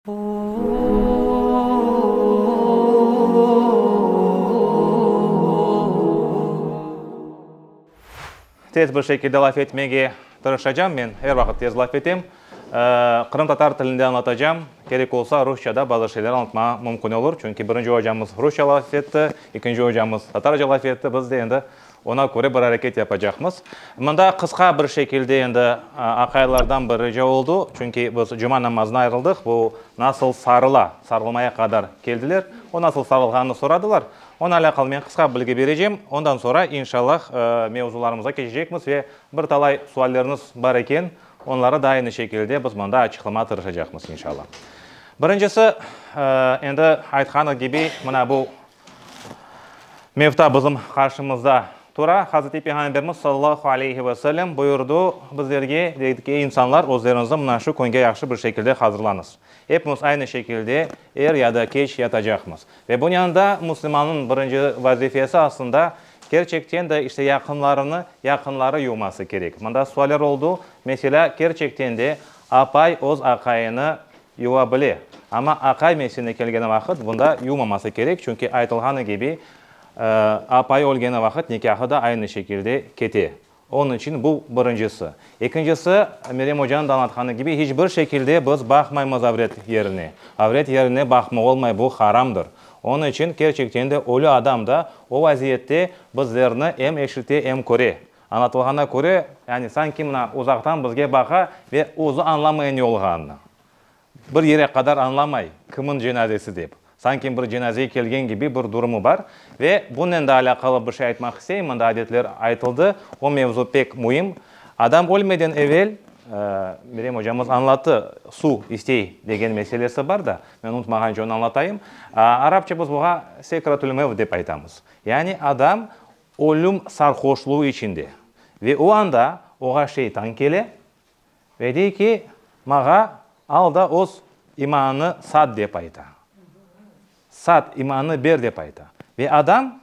Tez bir şekilde laf etmege tırışacam, men er vaqıt tez laf etem. Qırımtatar tilinde añlatacam, kerek olsa rusça da bazı şeyler añlatmağa mümkün olur, çünki birinci ocamız rusça laf etti, ekinci ocamız tatarca laf etti, biz de endi Oña köre bir areket yapacaqmız. Mında qısqa bir şekilde endi aqaylardan bir rica oldu, çünki biz cuma namazına ayırıldıq, bu nasıl sarıla, sarılmaya qadar keldiler, o nasıl sarılğanını soradılar. Onı alâqalı men qısqa bilgi berecem, ondan sonra, inşallah, mevzularımıza keçecekmiz ve bir talay suallerniz bar eken, onları da aynı şekilde biz mında açıqlamağa tırışacaqmız, inşallah. Birincisi, endi aytqanı kibi, mına bu Mevta bizim qarşımızda tura. Hazreti Peyğamberimiz sallallahu aleyhi ve sellem buyurdı bizlerge, Ey insanlar, özleriñizni mına şu künge yahşı bir şekilde hazırlañız. Epimiz aynı şekilde er ya da keç yatacaqmız. Ve bunıñ yanında müslümannıñ birinci vazifesi aslında kerçekten de işte yaqınlarını, yaqınları yuvması kerek. Mında sualler oldu. Meselâ, kerçekten de apay öz aqayını Yuva bile. Amma aqay mesine kelgeni vaqıt bunda yuvmaması kerek, çünki aytılğanı kibi, apay ölgeni vaqıt nikâhı da aynı şekilde kete. Onıñ içün bu birincisi. Ekincisi, Meryem ocanıñ da añlatqanı kibi, hiç bir şekilde biz baqmaymız avret yerine. Avret yerine baqma olmay, bu haramdır. Onıñ içün kerçekten de ölü adam da o vaziyette bizlerni em eşite, em köre. Añlatılğana köre, yani sanki mına uzaqtan bizge baqa ve özü añlamay ne olğanını. Bir yere qadar añlamay, kimniñ cenazesi dep. Sanki bir cenazeye kelgen kibi bir durumı bar. Ve bunnen da alâqalı bir şey aytmaq isteyim, mında adetler aytıldı, o mevzu pek müim. Adam ölmeden evel, Merem ocamız añlattı, su istey degen meselesi bar da, men unutmağanca onı añlatayım. Arapça biz buğa sekratül mevt dep aytamız. Yani adam Ölüm sarhoşluğı içinde. Ve o anda oğa Şeytan kele ve dey ki, Mağa al da öz imanını sat dep ayta. Sat, imanını ber dep ayta. Ve adam,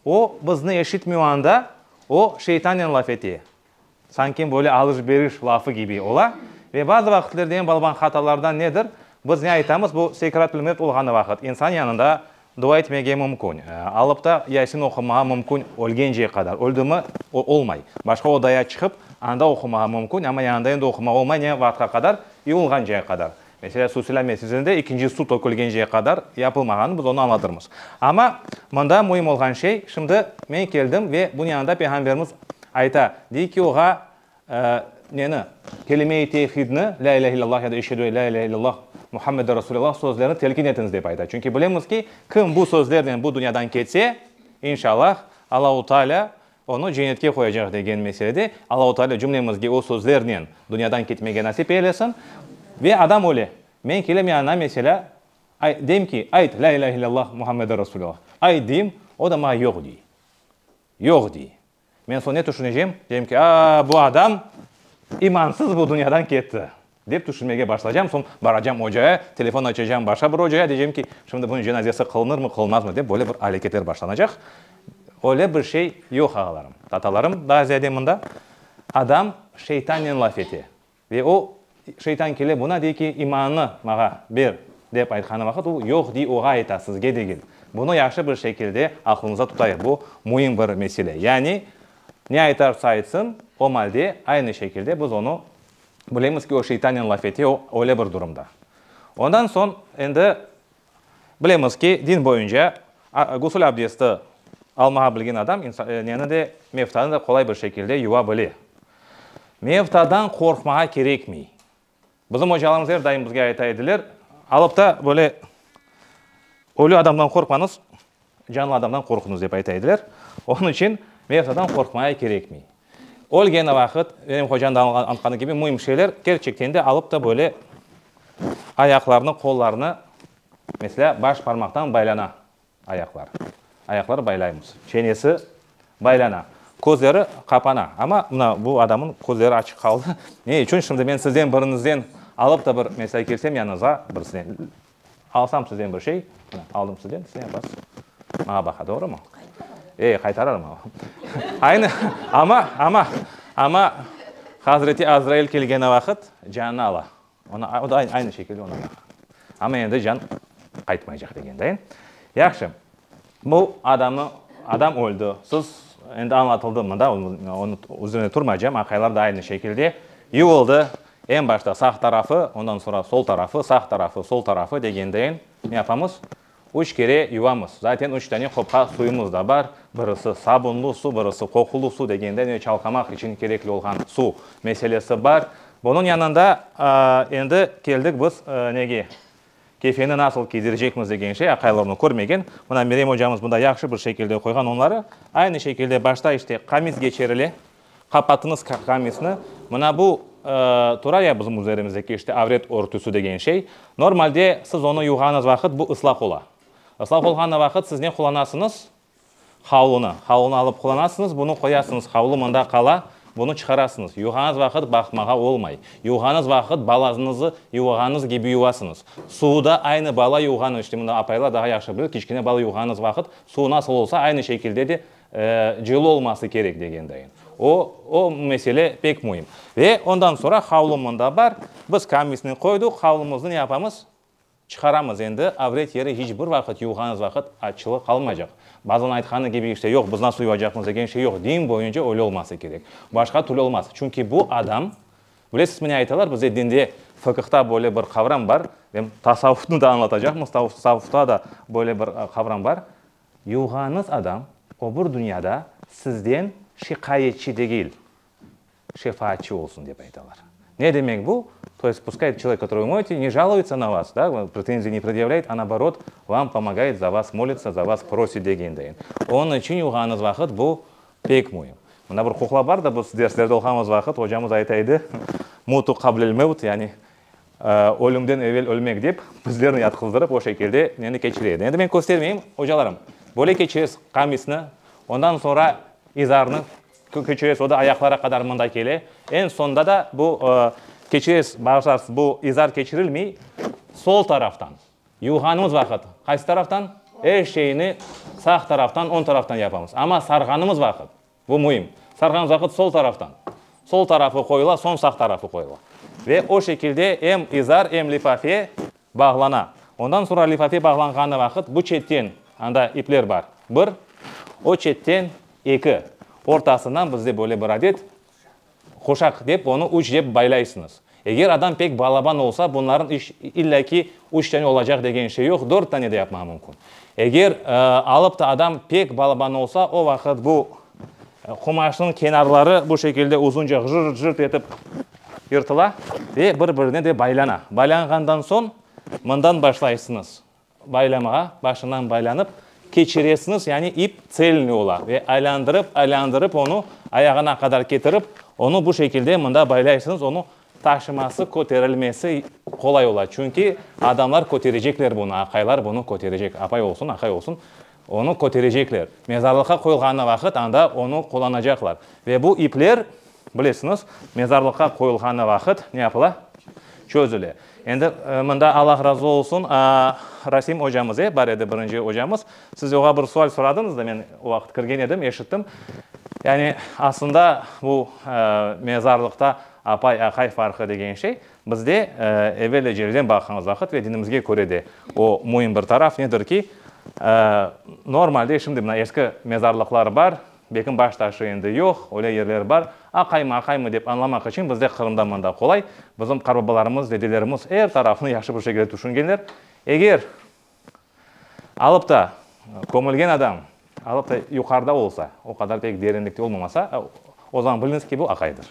o bizni eşitmey o anda, o Şeytannen laf ete, Sanki böyle alış-beriş lafı kibi ola. Ve bazı vaqitlerde eñ balban hatalardan nedir? Biz ne aytamız, bu Sekratül-Mevt olğanı vaqıt, insan yanında dua etmege mümkün, alıp ta Yasin oqumağa mümkün ölgence qadar. Öldi mi, o olmay. Başqa odaya çıqıp, anda oqumağa mümkün, amma yanında endi oqumağa olmay ne vaqıtqa qadar? İulğance qadar. Meselâ, suv silâme sizinde ikinci suv tökülgence qadar yapılmağanı biz onı añlatırmız. Amma mında müim olğan şey, şimdi men keldim ve bunı yanında Peyğamberimiz ayta, dey ki, oğa, neni? Kelime-i tevhidni, lâ ilâhe illâllah ya da eşhedü lâ ilâhe illâllah Muhammedü Resûlillâh sözlerini telkin etiñiz, dep ayta. Çünki bilemiz ki, kim bu sözlernen bu dünyadan ketse, inşalâh, Allahu Teala Onı cennetke qoyacaq degen meselede Allahu Taalâ cümlemizge o sözlernen dünyadan ketmege nasip eylesin. Ve adam öyle. Men kelem yanına, meselâ, ay, deyim ki, ayt, lâ ilâhe illâllah Muhammedun Rasulullah. Ayt, deyim, o da maña yoq, dey. Yoq, dey. Men soñ ne tüşünecem? Deyim ki, aa, bu adam imansız bu dünyadan ketti. Dep tüşünmege başlaycam, soñ baracam ocaya, telefon açacam başqa bir ocaya, deycem ki, şimdi bunıñ cenazesi qılınırmı, qılınmazmı dep böyle bir aleketler başlanacaq. Öyle bir şey yoq, ağalarım, tatalarım, daa ziyade mında adam şeytannen laf ete. Ve o şeytan kele buna dey ki, imanını mağa ber dep aytqanı vaqıt o yoq dey oğa ayta, sizge degil. Bunı yahşı bir şekilde aqlımızda tutayıq, bu müim bir mesele. Yani ne aytarsa aytsın, o malde aynı şekilde biz onı Bilemiz ki, o şeytannen laf ete, o öyle bir durumda. Ondan soñ endi bilemiz ki, din boyunca gusül abdesti almağa bilgen adam neni de, mevtanı da qolay bir şekilde yuva bile. Mevtadan qorqmağa kerekmey. Bizim ocalarımız er daim bizge ayta ediler, alıp ta böyle ölü adamdan qorqmañız, Canlı adamdan qorqunız dep ayta ediler. Onıñ içün Mevtadan qorqmaya kerekmey. Ölgeni vaqıt, benim hocanıñ da anlatqanı kibi, müim şeyler, kerçekten de, alıp da böyle ayaqlarını, qollarını, meselâ, baş parmaqtan baylana ayaqlar. Ayaqları baylaymız. Çenesi baylana. Közleri qapana. Amma mına bu adamnıñ közleri açıq qaldı. Ne içün? Şimdi men sizden biriñizden alıp da bir, meselâ, kelsem yanıñızğa, birisine, Alsam sizden bir şey, mına, aldım sizden, siz yapasız. Maña baqa, doğrumı? Qaytararım. E, qaytararım ama. Aynı, ama, ama, ama Hazreti Azrail kelgeni vaqıt canını ala. Ona, o da aynı şekilde ona baqa. Ama endi can qaytmaycaq degen, değil mi? Yahşı. Bu adamı, adam öldi. Söz endi añlatıldı mında, onı üzerinde turmaycam, aqaylar da aynı şekilde yuvuldı. Eñ başta sağ tarafı, ondan soñra sol tarafı, sağ tarafı, sol tarafı degendeyin ne yapamız? Üç kere yuvamız. Zaten üç tane qopqa suyumız da bar. Birisi sabunlı su, birisi qoqulı su degende ne çalqamaq içün kerekli olğan su meselesi bar. Bunıñ yanında endi keldik biz nege? Kefeni nasıl kiydirecekmiz degen şey aqaylarnı körmegen, mına Merem ocamız bunda yahşı bir şekilde qoyğan onları, aynı şekilde başta işte qamis geçirile, qapatıñız qamisni, mına bu tura ya bizim üzerimizdeki işte avret örtüsi degen şey, normalde siz onı yuvğanız vaqıt bu ıslaq ola, ıslaq olğanı vaqıt siz ne qullanasıñız, Havlunı. Havlunı alıp qulanasıñız, bunı qoyasıñız, havlu mında qala, bunı çıqarasıñız. Yuvğanız vaqıt baqmağa olmay. Yuvğanız vaqıt balazıñızı yuvğanız kibi yuvasıñız. Suvu da aynı bala yuvğanı, işte mında apaylar daha yahşı bilir, kiçkine bala yuvğanız vaqıt suvu nasıl olsa, aynı şekilde de cılı olması kerek, degendayım. O, o mesele pek müim. Ve ondan soñra havlu mında bar, biz kamisni qoyduq, havlumıznı ne yapamız? Çıqaramız endi, avret yeri hiç bir vaqıt yuvğanız vaqıt açılı qalmaycaq. Bazan aytqanı kibi işte yoq biz nasıl yuvacaqmız degen şey yoq, din boyunca öyle olması kerek. Başqa türlü olmaz. Çünki bu adam, bilesizmi ne aytalar bizde dinde, fıkıhta böyle bir qavram bar, em tasavvufnı da añlatacaqmız, tasavvufta da böyle bir qavram bar, yuvğanız adam öbür dünyada sizden şikâyetçi degil. Şefaatçı olsun dep aytalar. Ne demek bu? To есть puskay çolek, kötörıy moyte, ne jaluyıtsa na vas, da, pretenziy ne predjavlâyt, a naoborot, vam pomogayıt, za vas molitsa, za vas prosit degendeyin. Onıñ içün yuğanıñız vaqıt bu pek müim. Mında bir quqla bar da, biz derslerde oqamız vaqıt, ocamız ayta edi, mutu qablel mevt, yani ölümden evel ölmek dep, bizlerni yatqızdırıp o şekilde neni keçire edi. Endi men köstermeyim, ocalarım, böyle keçiresiz qamisni, ondan soñra izarnı, Keçirez, o da ayaqlara qadar mında kele. Eñ soñda da bu keçirez, bağışlarsiz, bu izar keçirilmey, sol taraftan, yuvğanımız vaqıt qaysı taraftan? Er şeyni sağ taraftan, oñ taraftan yapamız. Amma sarğanımız vaqıt, bu müim, sarğanımız vaqıt sol taraftan, sol tarafı qoyula, soñ sağ tarafı qoyula. Ve o şekilde em izar, em lifafe Bağlana. Ondan soñra lifafe bağlanğanı vaqıt bu çetten, anda ipler bar, bir, o çetten, eki, ortasından bizde böyle bir adet, quşaq dep, onı üç dep baylaysıñız. Eger adam pek balaban olsa, bunların iç, illa ki, üç tane olacaq degen şey yoq, dört tane de yapmağı mümkün. Eger, alıp ta adam pek balaban olsa, o vaqıt bu. Qumaşnıñ kenarları bu şekilde uzunca jırt-jırt etip yırtıla ve bir-birine de baylana. Baylanğandan soñ mından başlaysıñız baylamağa. Başından baylanıp keçiresiñiz, yani ip tselniy ola ve aylandırıp, aylandırıp onı ayağına qadar ketirip, onı bu şekilde mında baylaysıñız. Onı taşıması, köterilmesi qolay ola, çünki adamlar köterecekler bunı, aqaylar bunı köterecek, apay olsun, aqay olsun. Onı köterecekler. Mezarlıqqa qoyulğanı vaqıt anda onı qullanacaqlar. Ve bu ipler, bilesiñiz, mezarlıqqa qoyulğanı vaqıt ne yapıla? Çözüle. Endi mında Allah razı olsun, Rasim ocamız, e, bar edi, birinci ocamız. Siz oña bir sual soradıñız da, men o vaqıt kirgen edim, eşittim. Yani, aslında bu mezarlıqta apay-aqay farqı degen şey, Bizde, evel ecelden baqğanız vaqıt ve dinimizge köre de o müim bir taraf nedir ki, normalde şimdi mına eski mezarlıqlar bar, bekim baş taşı endi yoq, öyle yerler bar, aqaymı, aqaymı dep añlamaq içün bizde Qırımda mında qolay, bizim qarbabalarımız, dedelerimiz er tarafını yahşı bir şekilde tüşüngenler, eger Alıp ta kömülgen adam, alıp ta yuqarıda olsa, o qadar pek derinlikte olmamasa, o zaman biliñiz ki, bu aqaydır.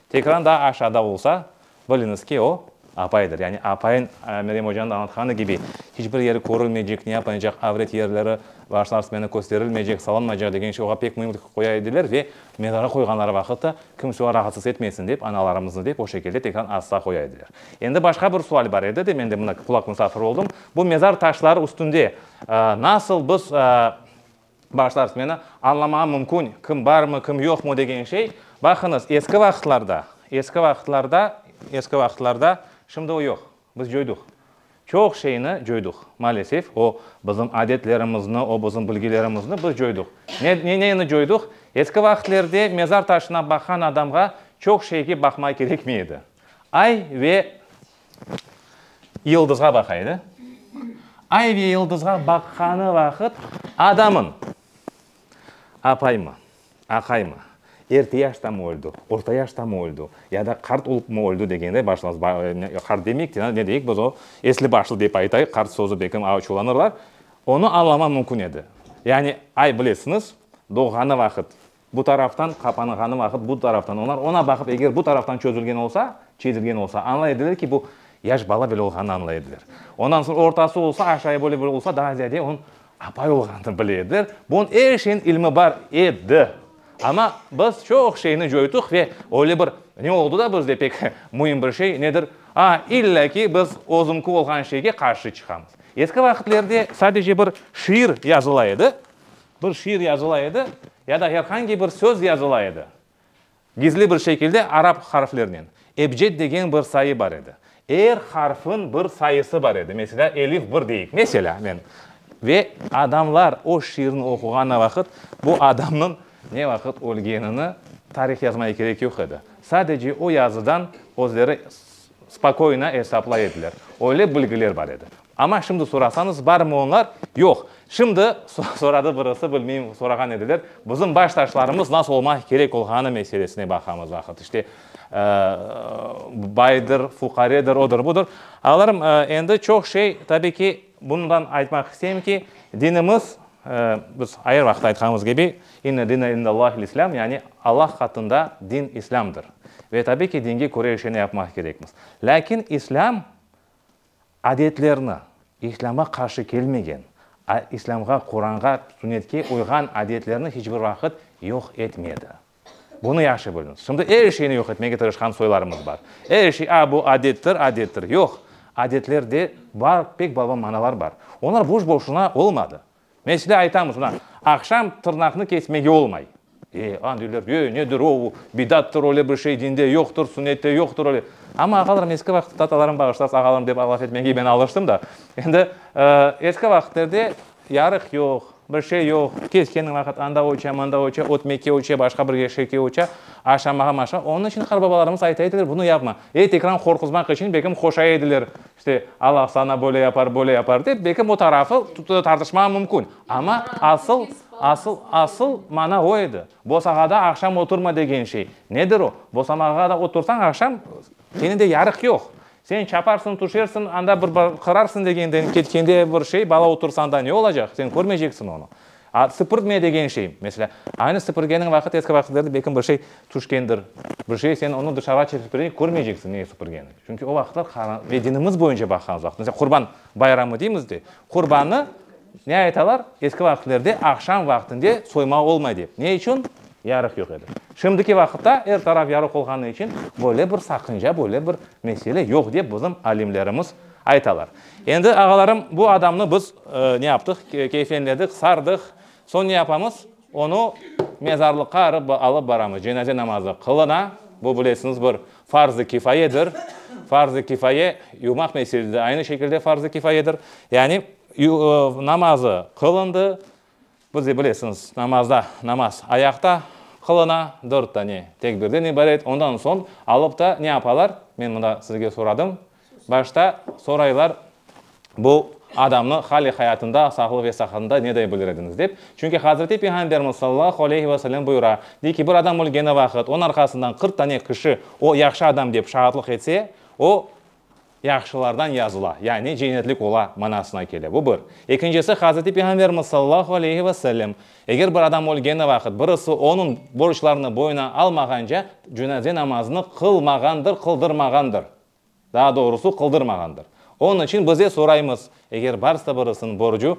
Tekran daa aşağıda olsa, biliñiz ki, o apaydır. Yani apayın Meryem ocanıñ da añlatqanı kibi, hiç bir yeri körülmeycek, ne yapılmaycaq, avret yerleri bağışla Arz meni kösterilmeycek, salınmaycaq degen şey oña pek müimlik qoya ediler ve mezara qoyğanları vaqıt ta kimse oña rahatsız etmeysin dep, analarımıznı dep o şekilde tekran asla qoya ediler. Endi başqa bir sual bar edi de, men de mına qulaq musafiri oldım, Bu mezar taşları üstünde nasıl biz, bağışlarız, meni añlamağım mümkün, kim barmı, kim yoqmı degen şey, baqıñız, eski vaqıtlarda, eski vaqıtlarda, eski vaqıtlarda, şimdi o yoq, biz coyduq, çoq şeyni coyduq, maalesef, o bizim adetlerimizni, o bizim bilgilerimizni biz coyduq. Ne, ne, neyni coyduq? Eski vaqıtlerde mezar taşına baqan adamğa çoq şeyge baqmay kerekmey edi. Ay ve Yıldızğa baqaydı. Ay ve yıldızğa baqqanı vaqıt adamın, apaymı, aqaymı, erti yaştamı öldi, orta yaştamı öldi ya da qart olupmı öldi degende başlamız. Qart demeyik de, ne deyik biz o, esli başlı dep aytayıq, qart sözü belki açuvlanırlar. Onı añlaman mümkün edi. Yani ay bilesiñiz, doğğanı vaqıt Bu taraftan qapanğanı vaqıt, bu taraftan, olar oña baqıp, eger bu taraftan çözülgen olsa, çezilgen olsa, añlay ediler ki, bu yaş bala böyle olğanını añlay ediler. Ondan soñ ortası olsa, aşağı böyle böyle olsa, daa ziyade onıñ apay olğanını bile ediler. Bunıñ er şeyniñ ilmi bar edi. Amma biz çoq şeyni coyduq ve öyle bir ne oldu da bizde pek müim bir şey, nedir, a, illa ki, biz özüñki olğan şeyge qarşı çıqamız. Eski vaqitlerde sadece bir şiir yazıla edi, Bir şiir yazıla edi, ya da her hangi bir söz yazıla edi, gizli bir şekilde arap harflerinen. Ebced degen bir sayı bar edi. Er harfniñ bir sayısı bar edi. Meselâ, elif bir deyik, meselâ, men. Ve adamlar o şiirni oquğanı vaqıt, bu adamnıñ ne vaqıt ölgenini tarih yazmaya kerek yoq edi. Sadece o yazıdan özleri Spokoyno esaplay ediler. Öyle bilgiler bar edi. Amma şimdi sorasañız, barmi onlar? Yoq. Şimdi, soradı birisi, bilmeyim, sorağan ediler, bizim baş taşlarımız nasıl olmaq kerek olğanı meselesine baqamız vaqıt. İşte, baydır, fuqaredir, odur-budur. Ağalarım, endi çoq şey, tabii ki, Bundan aytmaq isteyim ki, dinimiz, biz ayır vaqıt aytqanımız kibi, İnne dine indellâhil islâm, yani Allah qatında din İslâmdır. Ve tabiy ki, dinge köre işlerni yapmaq kerekmiz. Lâkin İslâm adetlerni, İslâma qarşı kelmegen, İslâmğa, Quranğa, Sünnetke uyğan adetlerni hiç bir vaqıt yoq etmedi. Bunı yahşı biliñiz. Şimdi er şeyni yoq etmege tırışqan soylarımız bar. Er şey, a, bu adettir, adettir. Yoq, adetlerde bar, pek balban manalar bar. Olar boş-boşuna olmadı. Mesele, aytamız, mına, aqşam tırnaqnı kesmege olmay. E, ana deyler, e, nedir o, o, bidattır, öyle bir şey dinde yoqtır, sünnette yoqtır, öyle. Amma, ağalarım, eski vaqıtta, atalarım, bağışlasın, ağalarım dep laf etmege ben alıştım da. Endi, e, eski vaqıtlarda Yarıq yoq, bir şey yoq, kes kendi vaqıt anda oça, manda oça, ötmeke oça, başqa bir eşekke oça, aşamağa maşa, onıñ içün qarbabalarımız ayta ediler, bunu yapma, ey tekran qorquzmaq içün bekim qoşa ediler, işte, Allah saña böyle yapar, böyle yapar dep, bekim o tarafı tartışmağa mümkün, amma asıl, asıl, asıl mana o edi, bosağada aqşam oturma degen şey, nedir o, bosamağa da otursañ aqşam, kene de yarıq yoq, Sen çaparsıñ, tüşersiñ, anda bir qararsıñ degenden ketkende bir şey, bala otursa anda ne olacaq? Sen körmeyceksiñ onı. A sipirtme degen şey, mesela, aynı sipirgeniñ vaqıt, eski vaqıtlarda belkim bir şey tüşkendir, bir şey, sen onı dışarığa çıqıp körmeyceksiñ, ne sipirgeni. Çünki o vaqıtlar ve dinimiz boyunca baqqanımız vaqıt, mesela, Qurban. Bayramı deymiz de, Qurbannı ne aytalar? Eski vaqıtlerde aqşam vaqtinde soyma olmay dep. Ne içün? Yarıq yoq edi. Şimdiki vaqıtta er taraf yarıq olğanı içün böyle bir saqınca, böyle bir mesele yoq dep bizim alimlerimiz aytalar. Endi, ağalarım, bu adamnı biz ne yaptıq? Keyfenledik, sardıq. Soñ ne yapamız? Onı mezarlıqqa alıp baramız, cenaze namazı qılına, bu, bilesiñiz, bir farz-ı kifayedir. Farz-ı kifaye yumaq meselesi de aynı şekilde farz-ı kifayedir. Yani namazı qılındı, bizde, bilesiñiz, namazda, namaz ayaqta qılına, dört tane tekbirden ibaret, ondan soñ alıp ta ne yapalar? Men mında sizge soradım, Başta soraylar, Bu adamnı hali hayatında, sağlığı ve saqatında neday bilir ediñiz? dep. Çünki Hazreti Peyğamberimiz sallallahu aleyhi ve selem buyura, dey ki, bir adam ölgeni vaqıt, onıñ arqasından qırq tane kişi o yahşı adam dep şaatlıq etse, o yahşılardan yazıla, yani cennetlik ola manasına kele. Bu bir. Ekincisi, Hazreti Peyğamberimiz sallallahu aleyhi ve selem, Eger bir adam ölgeni vaqıt, birisi onıñ borclarını boyuna almağanca, cenaze namazını qılmağandır, qıldırmağandır. Daa doğrusı, qıldırmağandır. Onıñ içün bize soraymız, eger barsa birisiniñ borcu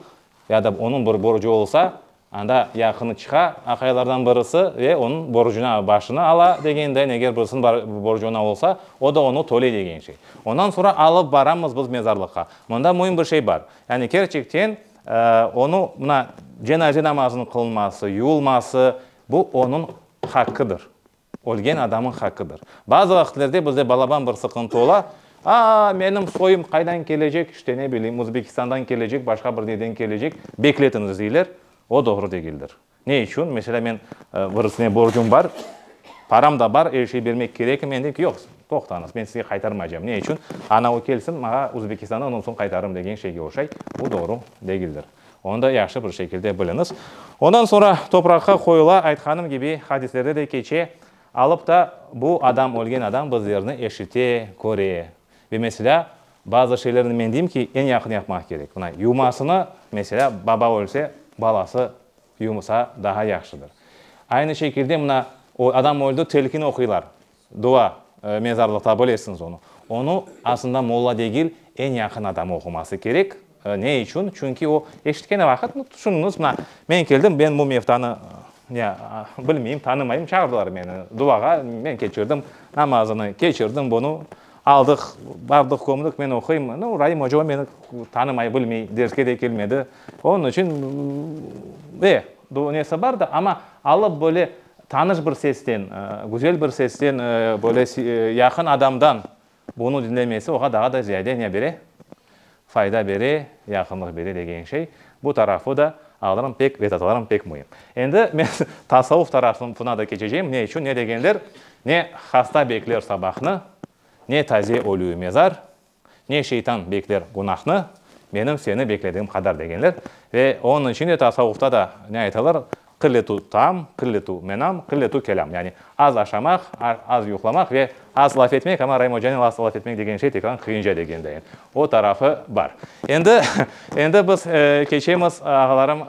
ya da onıñ bir borcu olsa, anda yaqını çıqa aqaylardan birisi ve onıñ borcunı, başını ala degendeñ, eger birisiniñ bar borcu oña olsa, o da onı töley degen şey. Ondan soñra alıp baramız biz mezarlıqqa. Mında müim bir şey bar. Yani kerçekten onı mına cenaze namazınıñ qılınması, yuvulması, bu onıñ haqqıdır. Ölgen adamın haqqıdır. Bazı vaqıtlerde bizde balaban bir sıqıntı ola, Aa, menim soyum qaydan kelecek, işte, ne bileyim, Uzbekistandan kelecek, başqa bir neden kelecek, bekletiñiz, deyler. O doğru degildir. Ne içün? Meselâ, men birisine borcum bar, param da bar, er şey bermek kerekmi? Men deyim ki, yoq, toqtañız, men sizge qaytarmaycam. Ne içün? Anavı kelsin, maña Uzbekistandan, ondan soñ qaytarırım, degen şeyge oşay. Bu doğru degildir. Onı da yahşı bir şekilde biliñiz. Ondan soñra topraqqa qoyula, aytqanım kibi, hadislerde de keçe, alıp ta bu adam, ölgen adam bu zerni eşite, köre. Ve meselâ, bazı şeylerni men deyim ki, eñ yaqın yapmaq kerek. Mına, yumasını, meselâ, baba ölse, balası yumsa, daha yahşıdır. Aynı şekilde, mına, o adam öldi, telkin oquylar. Dua, mezarlıqta bilesiñiz onı. Onı, asında, molla degil, eñ yaqın adamı oquması kerek. Ne içün? Çünki o, eşitkeni vaqıt, mı, tüşüniñiz, mına, men keldim, men bu mevtanı, ya, bilmeyim, tanımayım, çağırdılar meni duağa, men keçirdim, namazını keçirdim bunı, aldıq, bardıq, kömdük, men oquyım, no, Raim oca o meni tanımay, bilmey, derske de kelmedi, onıñ içün, e, nesi bar da, amma Alıp böyle tanış bir sesten, güzel bir sesten, böyle yaqın adamdan bunı diñlemesi oğa daha da ziyade ne bere? Fayda bere, yaqınlıq bere degen şey. Bu tarafı da alırım pek, vedatalarım pek müim. Endi men tasavuf tarafına da keçeceyim. Ne içün? Ne degenler, ne hasta bekler sabahnı, ne taze ölü mezar, Ne şeytan bekler günahnı, menim seni bekledigim qadar degenler. Ve onıñ içün de tasavvufta da ne aytalar, qilletu taam, qilletu menam, qilletu kelâm, yani az aşamaq, az yuqlamaq ve az laf etmek, amma Raim ocanıñ az laf etmek degen şey tekrar qıyınca degendeyin. O tarafı bar. Endi, endi biz keçemiz, ağalarım,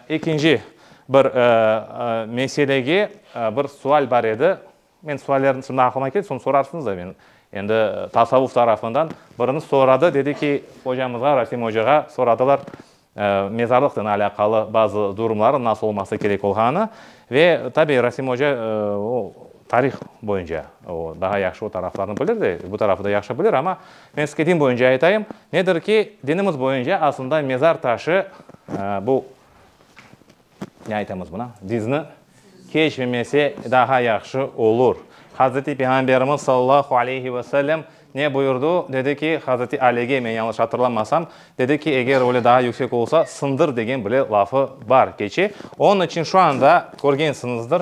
ekinci bir meselege. Bir sual bar edi. Men suallerniñ şimdi aqlıma keldi, soñ sorarsıñız da, men endi tasavvuf tarafından biriniz soradı, dedi ki, ocamızğa, Rasim ocağa soradılar mezarlıqnen alâqalı bazı durumları nasıl olması kerek olğanı ve tabi Rasim oca o tarih boyunca o daha yahşı o taraflarnı bilir de bu tarafı da yahşı bilir, amma men sizge din boyunca aytayım, nedir ki, dinimiz boyunca aslında mezar taşı bu Ne aytamız buna? Bizni keçmemese daha yahşı olur. Hazreti Peyğamberimiz sallallahu aleyhi ve sellem ne buyurdu? Dedi ki, Hazreti Alege, men yanlış atırlamasam, dedi ki, eger öyle daha yüksek olsa, sındır degen bile lafı bar keçe. Onıñ içün şu anda körgensiñizdir,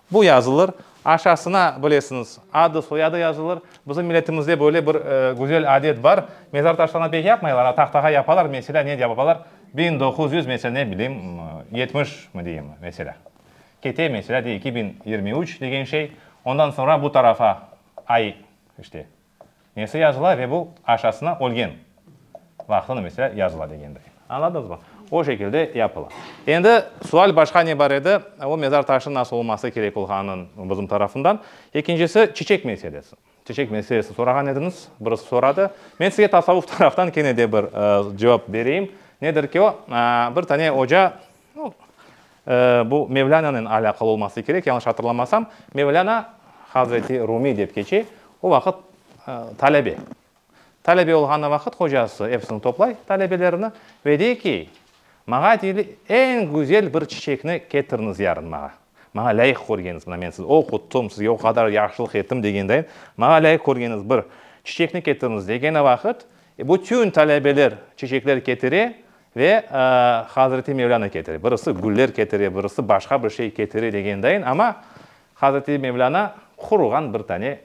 Bu yazılır, aşasına, bilesiñiz, adı, soyadı yazılır. Bizim milletimizde böyle bir güzel adet bar, mezar taşlarına pek yapmaylar, a tahtağa yapalar, meselâ, ne dep yapalar, biñ doquz yüz, meselâ, ne bileyim, yetmiş mi diyim, meselâ, kete, meselâ, de, eki biñ yirmi üç degen şey, ondan soñra bu tarafa ay, işte, Nesi yazıla ve bu aşasına ölgen vaqtını mesela yazıla degenday. Añladıñızmı? O şekilde yapıla. Endi sual başqa ne bar edi, o mezar taşınıñ nasıl olması kerek olğanın bizim tarafından. Ekincisi, çiçek meselesi. Çiçek meselesini sorağan ediñiz, birisi soradı. Men size tasavvuf taraftan kene de bir cevap bereyim. Nedir ki o, bir tane oca, No, bu Mevlânanıñ alâqalı olması kerek, yañlış atırlamasam, Mevlâna Hazreti Rumiy dep keçe, o vaqıt talebe. Talebe olğanı vaqıt hocası episini toplay, talebelerini, ve dey ki, maña deyli, eñ güzel bir çiçekni ketiriniz yarın maña. Maña lâyıq körgeniz, mına men sizni oqutım, sizge o qadar yahşılıq ettim degendeyin, maña lâyıq körgeniz bir çiçekni ketiriniz degeni vaqıt, bütün talebeler çiçekler ketire, Ve Hazreti Mevlâna ketire, birisi güller ketire, birisi başqa bir şey ketire degendayin, amma Hazreti Mevlâna quruğan bir tane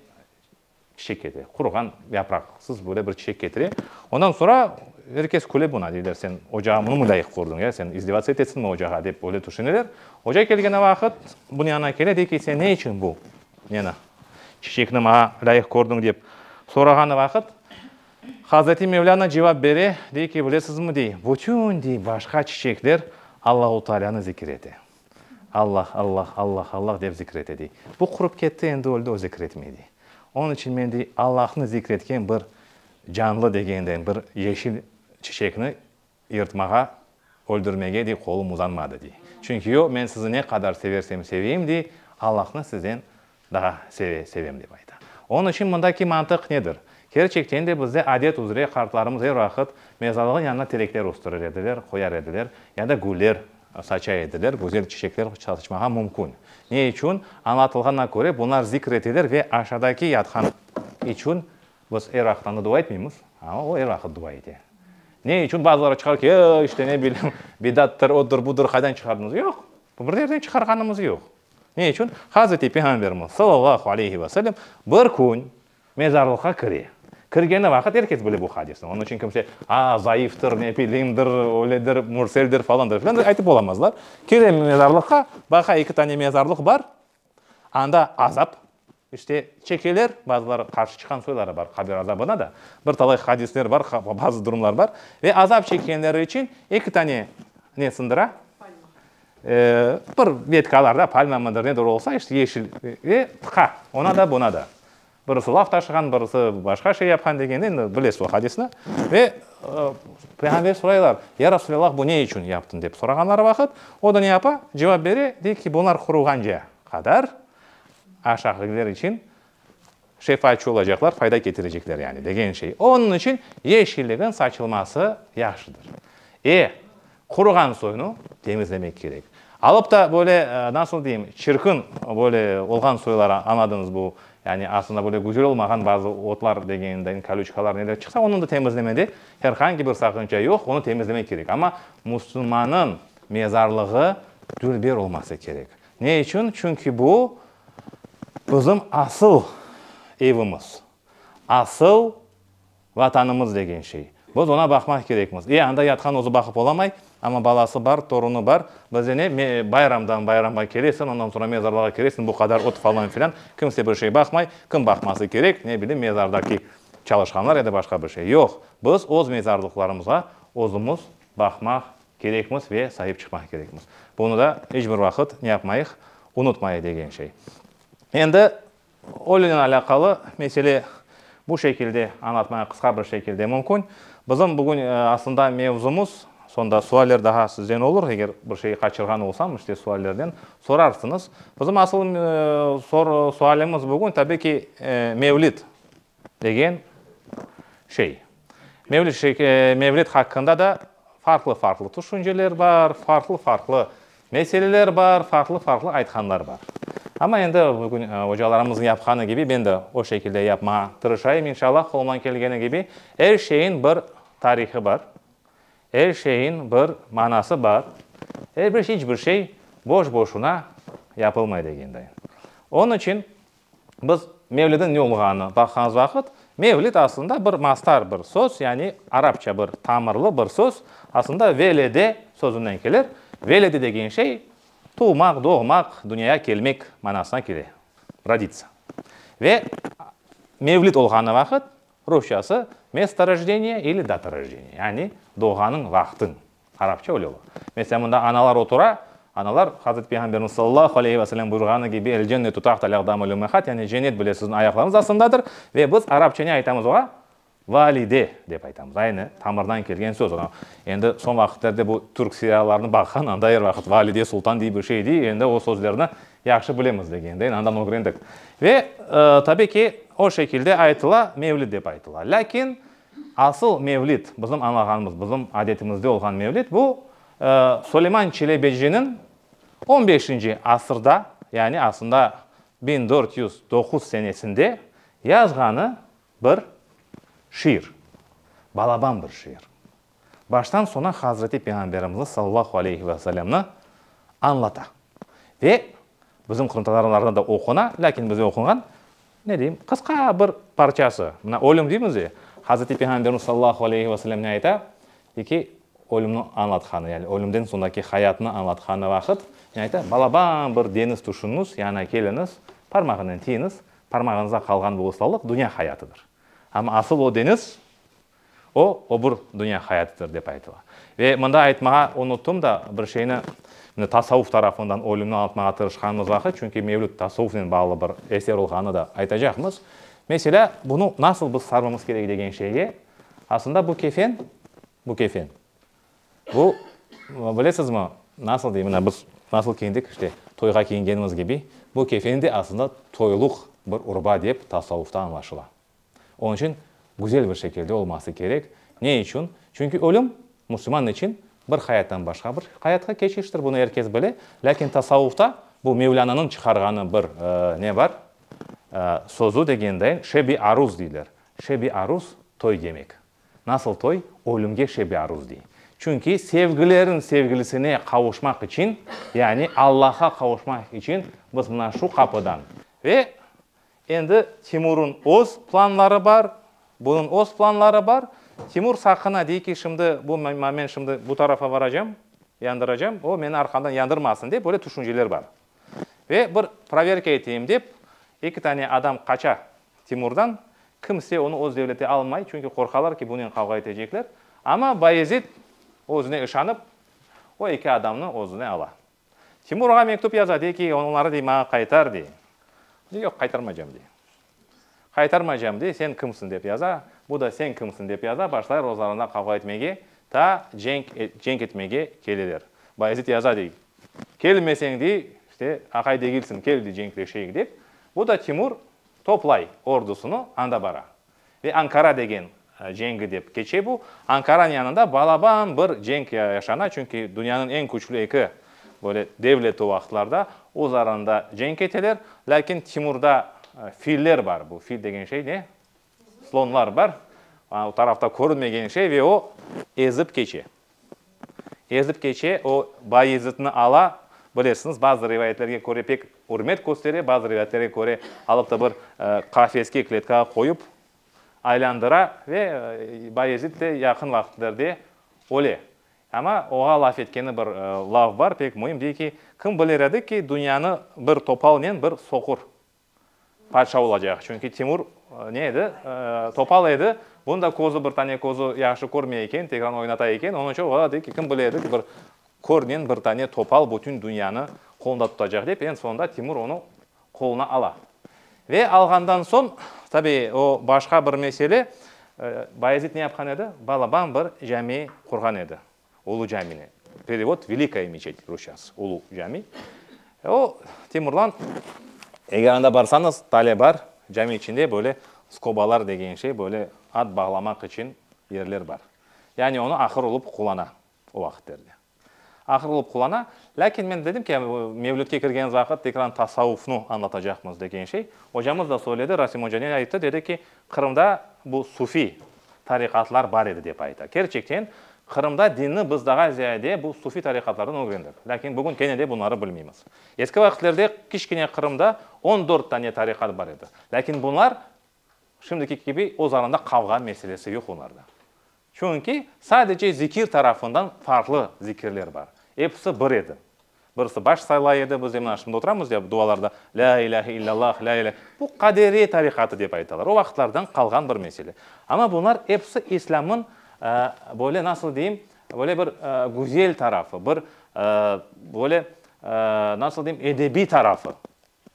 çiçek ketire, quruğan yapraqsız böyle bir çiçek ketire. Ondan soñra er kes küle buna, deyler, sen ocağa bunı mı lâyıq qurduñ, ya, sen izdivatsız etesiñmi ocağa, dep öyle tüşüneler. Oca kelgen vaqıt bunı yanına kele, dey ki, sen ne içün bu neni, çiçekni maña lâyıq qurduñ, dep sorağan vaqıt, Hazreti Mevlâna cevap bere, dey ki, bilesizmi, dey, bütün, dey, başqa çiçekler Allahu Taalânı zikir ete. Allah, Allah, Allah, Allah dep zikir ete, dey. Bu qurıp ketti, endi öldi, o zikir etmey, dey. Onıñ içün men, dey, Allahnı zikir etken bir canlı degenden bir yeşil çiçekni Yırtmağa, öldürmege de qolum uzanmadı, dey. Çünki o, men sizi ne qadar seversem seveyim dey, Allahnı sizden daa seve, sevem, dep ayta. Onıñ içün mındaki mantıq nedir? Kerçekten de, bizde adet üzre qartlarımız er vaqıt mezarlığın yanına terekler östürir ediler, qoyar ediler, ya da güller saça ediler, güzel çiçekler saçmağa mümkün. Ne içün? Añlatılğanına köre, bunlar zikr etilir ve aşadaki yatqan içün Biz er aqtanı dua etmeymız, amma o er aqıt dua ete. Ne içün bazıları çıqar ki, e, işte, ne bilem, bidattır, odur, budur, qaydan çıqardınız? Yoq, bir yerden çıqarğanımız yoq. Ne içün? Hazreti Peyğamberimiz, sallallahu aleyhi ve sellem, bir kün mezarlıqqa kire. Kirgeni vaqıt er kes bile bu hadisni. Onıñ içün kimse, a, zayıftır, ne bilimdir, öyledir, mürseldir, falandır, filandır, aytıp olamazlar. Kire mezarlıqqa, baqa, eki tane mezarlıq bar, Anda azap, işte, çekeler, bazıları qarşı çıqan soyları bar qabir azabına da. Bir talay hadisler bar, bazı durumlar bar. Ve azap çekenleri içün eki tane ne sındıra? Palma. Bir vetkalarda, palma mıdır, nedir olsa, işte, yeşil, ve tıqa, ona da, buna da. Birisi laf taşığan, birisi başqa şey yapqan degen, endi bilesiz o hadisni. Ve Peyğamber soraylar, Ya Rasulallah, bu ne içün yaptın? dep sorağanları vaqıt, o da ne yapa? Cevap bere, dey ki, bunlar qurğanca qadar aşağıdakiler içün şefaatçı olacaqlar, fayda ketirecekler, yani, degen şey. Onıñ içün yeşilligiñ saçılması yahşıdır. E, Quruğan soyunı temizlemek kerek. Alıp da böyle, nasıl deyim, çirkin böyle olğan soylar, añladınız bu, yani aslında böyle güzel olmağan bazı otlar degenimden, kolüçkalar, neler çıqsa, onı da temizlemede her hangi bir saqınca yoq, onı temizlemek kerek. Amma musulmannıñ mezarlığı dülber olması kerek. Ne içün? Çünki bu, bizim asıl evimiz, asıl. Vatanımız degen şey. Biz oña baqmaq kerekmiz. E, anda yatqan özü baqıp olamay, amma balası bar, torunı bar. Bizde ne, me, bayramdan bayramğa kelesiñ, ondan soñra mezarlığa kiresiñ, bu qadar ot falan filan, kimse bir şey baqmay. Kim baqması kerek, ne bilim, mezardaki çalışqanlar ya da başqa bir şey. Yoq, biz öz mezarlıqlarımızğa özümiz baqmaq kerekmiz ve sahip çıqmaq kerekmiz. Bunı da iç bir vaqıt ne yapmayıq, unutmayıq degen şey. Endi Ölünen alâqalı mesele bu şekilde añlatmaya qısqa bir şekilde mümkün. Bizim bugün aslında mevzumız, sonda sualler daha sizden olur, eger bir şey qaçırğan olsam, işte suallerden sorarsıñız. Bizim asıl sualimiz bugün, tabii ki, mevlid. Degen şey. Mevlüt haqqında da farqlı-farqlı tüşünceler bar, farqlı-farqlı meseleler bar, farqlı-farqlı aytqanlar bar. Amma endi bugün ocalarımıznıñ yapqanı kibi men de o şekilde yapmağa tırışayım, inşallah, qolumdan kelgeni kibi. Er şeyin bir tarihı bar, er şeyin bir manası bar, er bir, hiç bir şey boş-boşuna yapılmay degenday. Onıñ içün. Biz mevlidin ne olğanı baqqanız vaqıt, mevlid aslında bir mastar bir söz, yani arapça bir tamırlı bir söz, aslında velede sözünden kelir. Velede degen şey, tuvmaq, doğmaq, dünyaya kelmek manasına kele, rodica. Ve mevlid olğanı vaqıt, rusçası, mesto rojdeniyye ili data rojdeniyye, yani doğğanıñ vaqtıñ. Arapça öyle ola. Mesela, mında analar otura, analar, Hazreti Peyğamberimiz sallallahu aleyhi ve sellem buyurğanı kibi, El cennetu tahtel aqdamil ümmâhat, yani cennet bile siziñ ayaqlarıñız astındadır, ve biz arapça ne aytamız oğa? Valide, dep aytamız. Aynı tamırdan kelgen söz. Ona, endi soñ vaqıtlarda bu türk seriallarını baqqan, anda er vaqıt valide sultan diye bir şey dey, endi o sözlerni yahşı bilemiz degendeyn, andan ögrendik. Ve, tabii ki, o şekilde aytıla, mevlid dep aytıla. Lâkin, Asıl mevlid, bizim añlağanımız, bizim adetimizde olğan mevlid, bu, Suleyman Çelebeciniñ on beşinci asırda, yani aslında biñ dört yüz doquz senesinde yazğanı bir şiir, balaban bir şiir. Baştan soña Hazreti Peyğamberimizni sallallahu aleyhi ve sellemni añlata ve bizim qırımtatarlarda da oquna, lâkin bize oqunğan ne deyim, qısqa bir parçası, mına ölüm deymiz ya, Hazreti Peyğamberimiz sallallahu aleyhi ve sellemni ayta, de ki, ölümni añlatqanı, yani ölümden soñraki hayatnı añlatqanı vaqıt, ne ayta, balaban bir deñiz tüşüñiz, yanına keliñiz, parmağınen tiyiñiz, parmağıñızda qalğan bu ıslallıq dünya hayatıdır. Amma asıl o deñiz, O, öbür dünya hayatıdır, dep aytıla. Ve mında aytmağa unuttum da bir şeyni, mine, tasavvuf tarafından ölümni añlatmağa tırışqanımız vaqıt, çünki mevlüt tasavvufnen bağlı bir eser olğanını da aytacaqmız. Meselâ, bunı nasıl biz sarmamız kerek degen şeyge, aslında bu kefen, bu kefen, bu, bilesizmi, nasıl deyim, mına, biz nasıl kiyindik, işte, toyğa kiyingenimiz kibi, bu kefen de aslında toyluq bir urba dep tasavvufta añlaşıla. Onıñ içün güzel bir şekilde olması kerek. Ne içün? Çünki ölüm, musulman içün, bir hayattan başqa bir hayatqa keçiştir, bunı er kes bile. Lâkin tasavvufta bu Mevlânanıñ çıqarğanı bir ne bar, sözü degendeñ, şebi aruz deyler. Şebi aruz, toy demek. Nasıl toy? Ölümge şebi aruz dey. Çünki sevgilerin sevgilisine qavuşmaq içün, yani Allaha qavuşmaq içün biz mına şu qapıdan ve Endi Timur'un öz planları bar, bunun öz planları bar. Timur saqına dey ki, şimdi bu men şimdi bu tarafa varacam, yandıracam, o meni arqamdan yandırmasın dep böyle tüşünceler bar. Ve bir proverka eteyim dep eki tane adam qaça Timur'dan, kimse onı öz devlete almay, çünki qorqalar ki, bunen qavğa etecekler. Amma Bayezid özüne işanıp, o eki adamnı özüne ala. Timur ağa mektüp yaza, dey ki, onları, dey, maña qaytar, dey. O da, yoq, qaytarmaycam, dey. Qaytarmaycam, dey, sen kimsiñ, dep yaza. Bu da sen kimsiñ, dep yaza, başlayır ozlarında qavğa etmege, ta cenk, cenk etmege keleler. Bayezit yaza, dey, kelmeseñ, dey, işte, aqay degilsiñ, kel, dey, cenkleşeyik, dep. Bu da Timur toplay ordusını, anda bara. Ve Ankara degen cengi dep keçe bu. Ankaranıñ yanında balaban bir cenk yaşana, çünki dünyanıñ eñ küçlü eki böyle devleti o vaqıtlarda öz aralarında cenk eteler. Lâkin Timurda filler bar, bu fil degen şey ne? Slonlar bar, o tarafta körünmegen şey ve o ezip keçe. Ezip keçe, o Bayezitni ala, bilesiñiz, bazı rivayetlerge köre pek ürmet köstere, bazı rivayetlerge köre alıp da bir qafeske, kletkağa qoyup, aylandıra ve Bayezit de yaqın vaqtlerde öle. Amma oğa laf etkeni bir laf bar, pek müim, dey ki, kim biler edi ki, dünyanı bir topalnen bir soqur Padşa olacaq, çünki Timur ne edi, topal edi, bunıñ da közü, bir tane közü yahşı körmey eken, tekrar oynata eken, onıñ içün olar dedi ki, kim bile edi ki, bir körnen bir tane topal bütün dünyanı qolunda tutacaq dep, eñ soñunda Timur onı qoluna ala. Ve alğandan soñ, tabi, o başqa bir mesele, Bayezid ne yapqan edi, balaban bir cami qurğan edi. Ulu camini, perevod, Velikaya meçet, rusçası, Ulu cami. O, Temurlan, eger anda barsañız, tale bar, cami içinde böyle skobalar degen şey, böyle at bağlamaq içün yerler bar. Yani onı ahır olıp qullana o vaqıtlarda. Ahır olıp qullana. Lâkin men dedim ki, mevlütke kirgenimiz vaqıt tekrar tasavvufnı añlatacaqmız degen şey. Ocamız da söyledi, Rasim oca ne ayttı, dedi ki, Qırımda bu sufiy tariqatlar bar edi, dep ayta. Kerçekten, Qırımda dinni biz daha ziyade bu sufiy tariqatlardan ögrendik. Lâkin bugün kene de bunları bilmeymiz. Eski vakitlerde kiçkine Qırımda on dört tane tariqat bar edi. Lâkin bunlar şimdiki kibi öz aranda qavğa meselesi yoq onlarda. Çünki sadece zikir tarafından farqlı zikirler bar. Episi bir edi. Birisi baş saylay edi, biz emin aşımda oturamız ya, dualarda, Lâ ilâhe illallah, lâ ilâhe. Bu Qaderiye tarikatı dep aytalar, o vaqıtlardan qalğan bir mesele. Amma bunlar episi İslâmın, böyle nasıl deyim, böyle bir güzel tarafı, bir böyle, nasıl deyim, edebiy tarafı.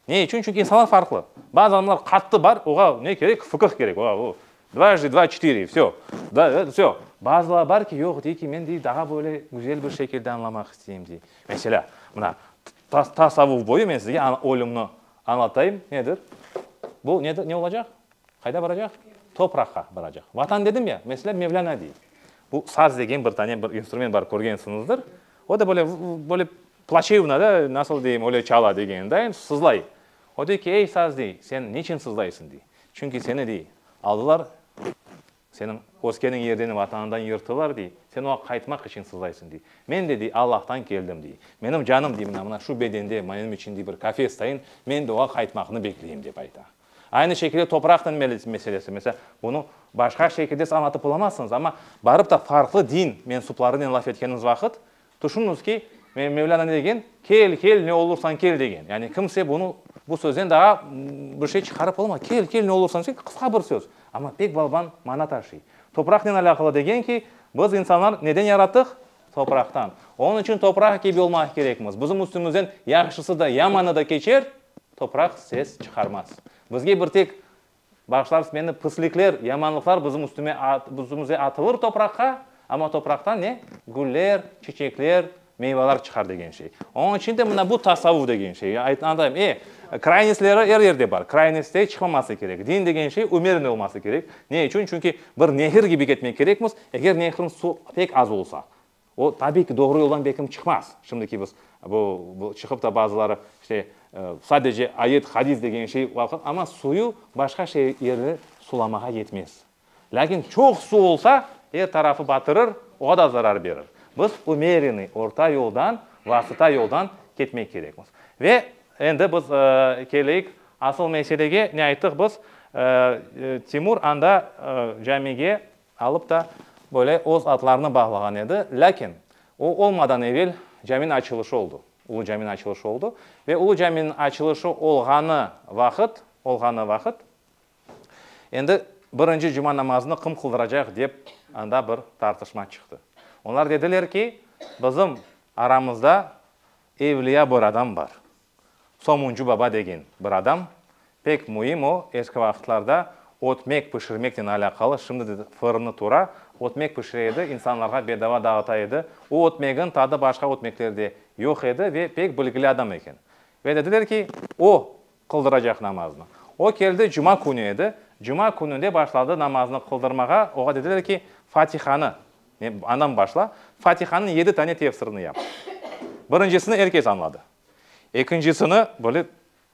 Ne içün? Çünki insanlar farqlı. Bazı adamlar qattı bar, oğa ne kerek, fıqıh kerek, oğa o, dvajdi dva çetiri, vsё, da, e, vsё. Bazılar bar ki, yoq, dey ki, men, dey, daha böyle güzel bir şekilde añlamaq isteyim, dey. Meselâ, mına, ta, tasavvuf boyu men sizge a, ölümni añlatayım, nedir? Bu nedir, ne olacaq? Qayda baracaq? Topraqqa baracaq. Vatan dedim ya, meselâ, Mevlâna, dey, bu saz degen bir tane bir instrument bar, körgensiñizdir, o da böyle, vv, böyle Plaçevna da, nasıl deyim, öyle çala degenindayım, sızlay. O dey ki, ey, saz, dey, sen niçin sızlaysıñ, dey. Çünki seni, dey, aldılar, seniñ öskeniñ yerden, Vatanından yırttılar, dey, sen oña qaytmaq içün sızlaysıñ, dey. Men de, dey, Allahtan keldim, dey. Menim canım, dey, mına, mına şu bedende menim içün, dey, bir kafes tayın, men de oña qaytmaqnı bekleyim, dep ayta. Aynı şekilde topraqnıñ meselesi, mesela, bunı başqa şekilde siz añlatıp olamazsıñız, amma barıp da farqlı din mensuplarınen laf etkeniñiz vaqıt, Tüşüniñiz ki, Mevlânanı degen, Kel, kel, ne olursañ kel degen. Yani kimse bunı, bu sözden daa bir şey çıqarıp olmaz. Kel, kel, ne olursañ kel, qısqa bir söz, amma pek balban mana taşıy. Topraqnen alâqalı degen ki, biz insanlar neden yarattıq? Topraqtan. Onıñ içün topraq kibi olmaq kerekmiz. Bizim üstümizden yahşısı da, yamanı da keçer, topraq ses çıqarmaz. Bizge bir tek Bağışlarsız meni, pıslikler, yamanlıqlar bizim üstüme, üstümüze atılır topraqqa, amma topraqtan ne? Güller, çiçekler, meyvalar çıqar degen şey. Onıñ içün de mına bu tasavvuf degen şey. Anlatayım, e, kraynesleri er yerde bar. Kraynesleri çıqmaması kerek. Din degen şey ümerniy olması kerek. Ne içün? Çünki bir nehir kibi ketmek kerekmiz. Eger nehirniñ suv pek az olsa, O, tabiy ki, doğru yoldan bekim çıqmaz. Şimdiki biz bu, bu çıqıp da bazıları işte sadece ayet, hadis degen şey, amma suyu başqa şey yerni sulamağa yetmez. Lâkin çoq su olsa, er tarafı batırır, oğa da zarar berir. Biz ümerenıy, orta yoldan, vasıta yoldan ketmek kerekmiz. Ve endi biz keleyik asıl meselege, ne ayttık biz, Timur anda camige alıp da böyle öz adlarını bağlağan edi, lâkin o olmadan evel caminiñ açılışı oldu, Ulu caminiñ açılışı oldu ve Ulu caminiñ açılışı olğanı vaqıt, olğanı vaqıt, endi birinci cuma namazını qım qıldıracaq dep anda bir tartışma çıqtı. Oñlar dediler ki, bizim aramızda evliya bir adam bar. Somuncu baba degen bir adam, pek müim o, eski vaqıtlarda ötmek pişirmeknen alâqalı, şimdi de fırını tura, ötmek pişire edi, insanlarğa bedava dağıta edi. O ötmegiñ tadı başqa ötmeklerde yoq edi ve pek bilgili adam eken. Ve dediler ki, o qıldıracaq namaznı. O keldi, cuma künü edi, cuma kününde başladı namaznı qıldırmağa, oğa dediler ki, Fatihanı, andan başla, Fatihanıñ yedi tane tefsirini yap. Birincisini er kes añladı. Ekincisini, böyle,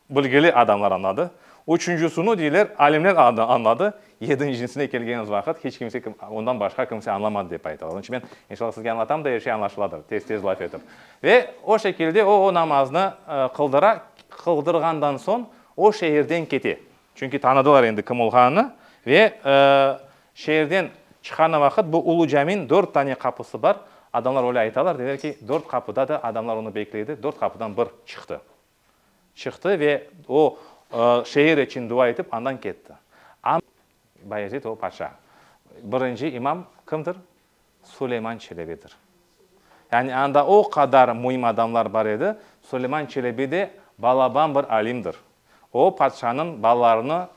bilgili adamlar añladı. Üçüncisini, deyler, alimler añladı. Yedincisine kelgenimiz vaqıt, hiç kimse, ondan başqa kimse añlamadı, dep aytalar. Onıñ içün men, inşallah, sizge añlatam da, er şey añlaşıladır, tez-tez laf etip. Ve o şekilde o, o namaznı qıldıra, qıldırğandan soñ o şeerden kete. Çünki tanıdılar endi kim olğanını. Ve şeerden çıqanı vaqıt bu Ulu Cami'niñ dört tane qapısı bar. Adamlar öyle aytalar, deyler ki, dört qapıda da adamlar onı bekle edi, dört qapıdan bir çıqtı. Çıqtı ve o şeer içün dua etip andan ketti. Am Bayezid o paşa. Birinci imam kimdir? Suleyman Çelebidir. Yani anda o qadar müim adamlar bar edi, Suleyman Çelebi de balaban bir alimdir. O, patşanıñ balalarına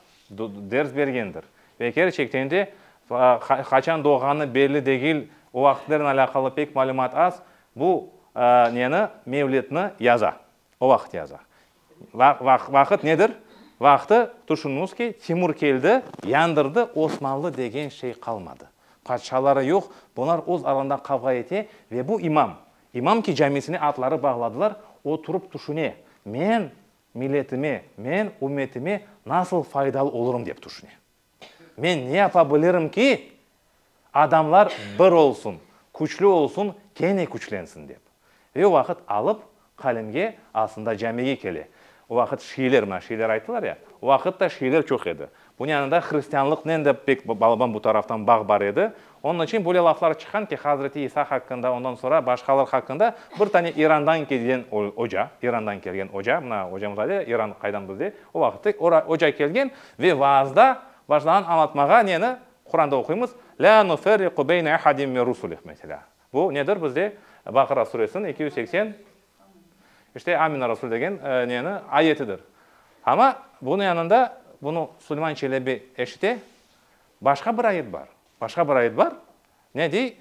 ders bergendir. Ve kerçekten de, qaçan doğğanı belli degil, o vaqıtlarnen alâqalı pek malümat az, bu neni, mevlidni yaza. O vaqıt yaza. Vaqıt nedir? Vaqtı, tüşüniñiz ki, Timur keldi, yandırdı, Osmanlı degen şey qalmadı. Patşaları yoq, bular öz aralarında qavğa ete ve bu imam, imam ki, camisine atları bağladılar, o turıp tüşüne, men milletime, men ümmetime nasıl faydalı olurım dep tüşüne. Men ne yapa bilirim ki, adamlar bir olsun, küçlü olsun, kene küçlensin dep. Ve vaqıt alıp, qalemge, aslında camige kele. O vaqıt şiiler, mına şiiler ayttılar ya, o vaqıt da şiiler çoq edi. Bunıñ yanında hristianlıqnen de pek, balaban bu taraftan bağ bar edi. Onıñ içün böyle laflar çıqqan ki, Hazreti İsa haqqında, ondan soñra başqalar haqqında bir tane İrandan kelgen oca, İrandan kelgen oca, mına ocamız aydı ya, İran qaydan bizde, o vaqıttı, ora oca kelgen ve vaazda başlağan añlatmağa neni, Quranda oquymız, La nuferriqu beyne ahadim min rusulih, meselâ. Bu nedir bizde? Baqara Suresiniñ eki yüz seksen, işte, Amina Rasul degen neni, ayetidir. Amma bunıñ yanında, bunı Suleyman Çelebi eşite, Başqa bir ayet bar. Başqa bir ayet bar, ne dey,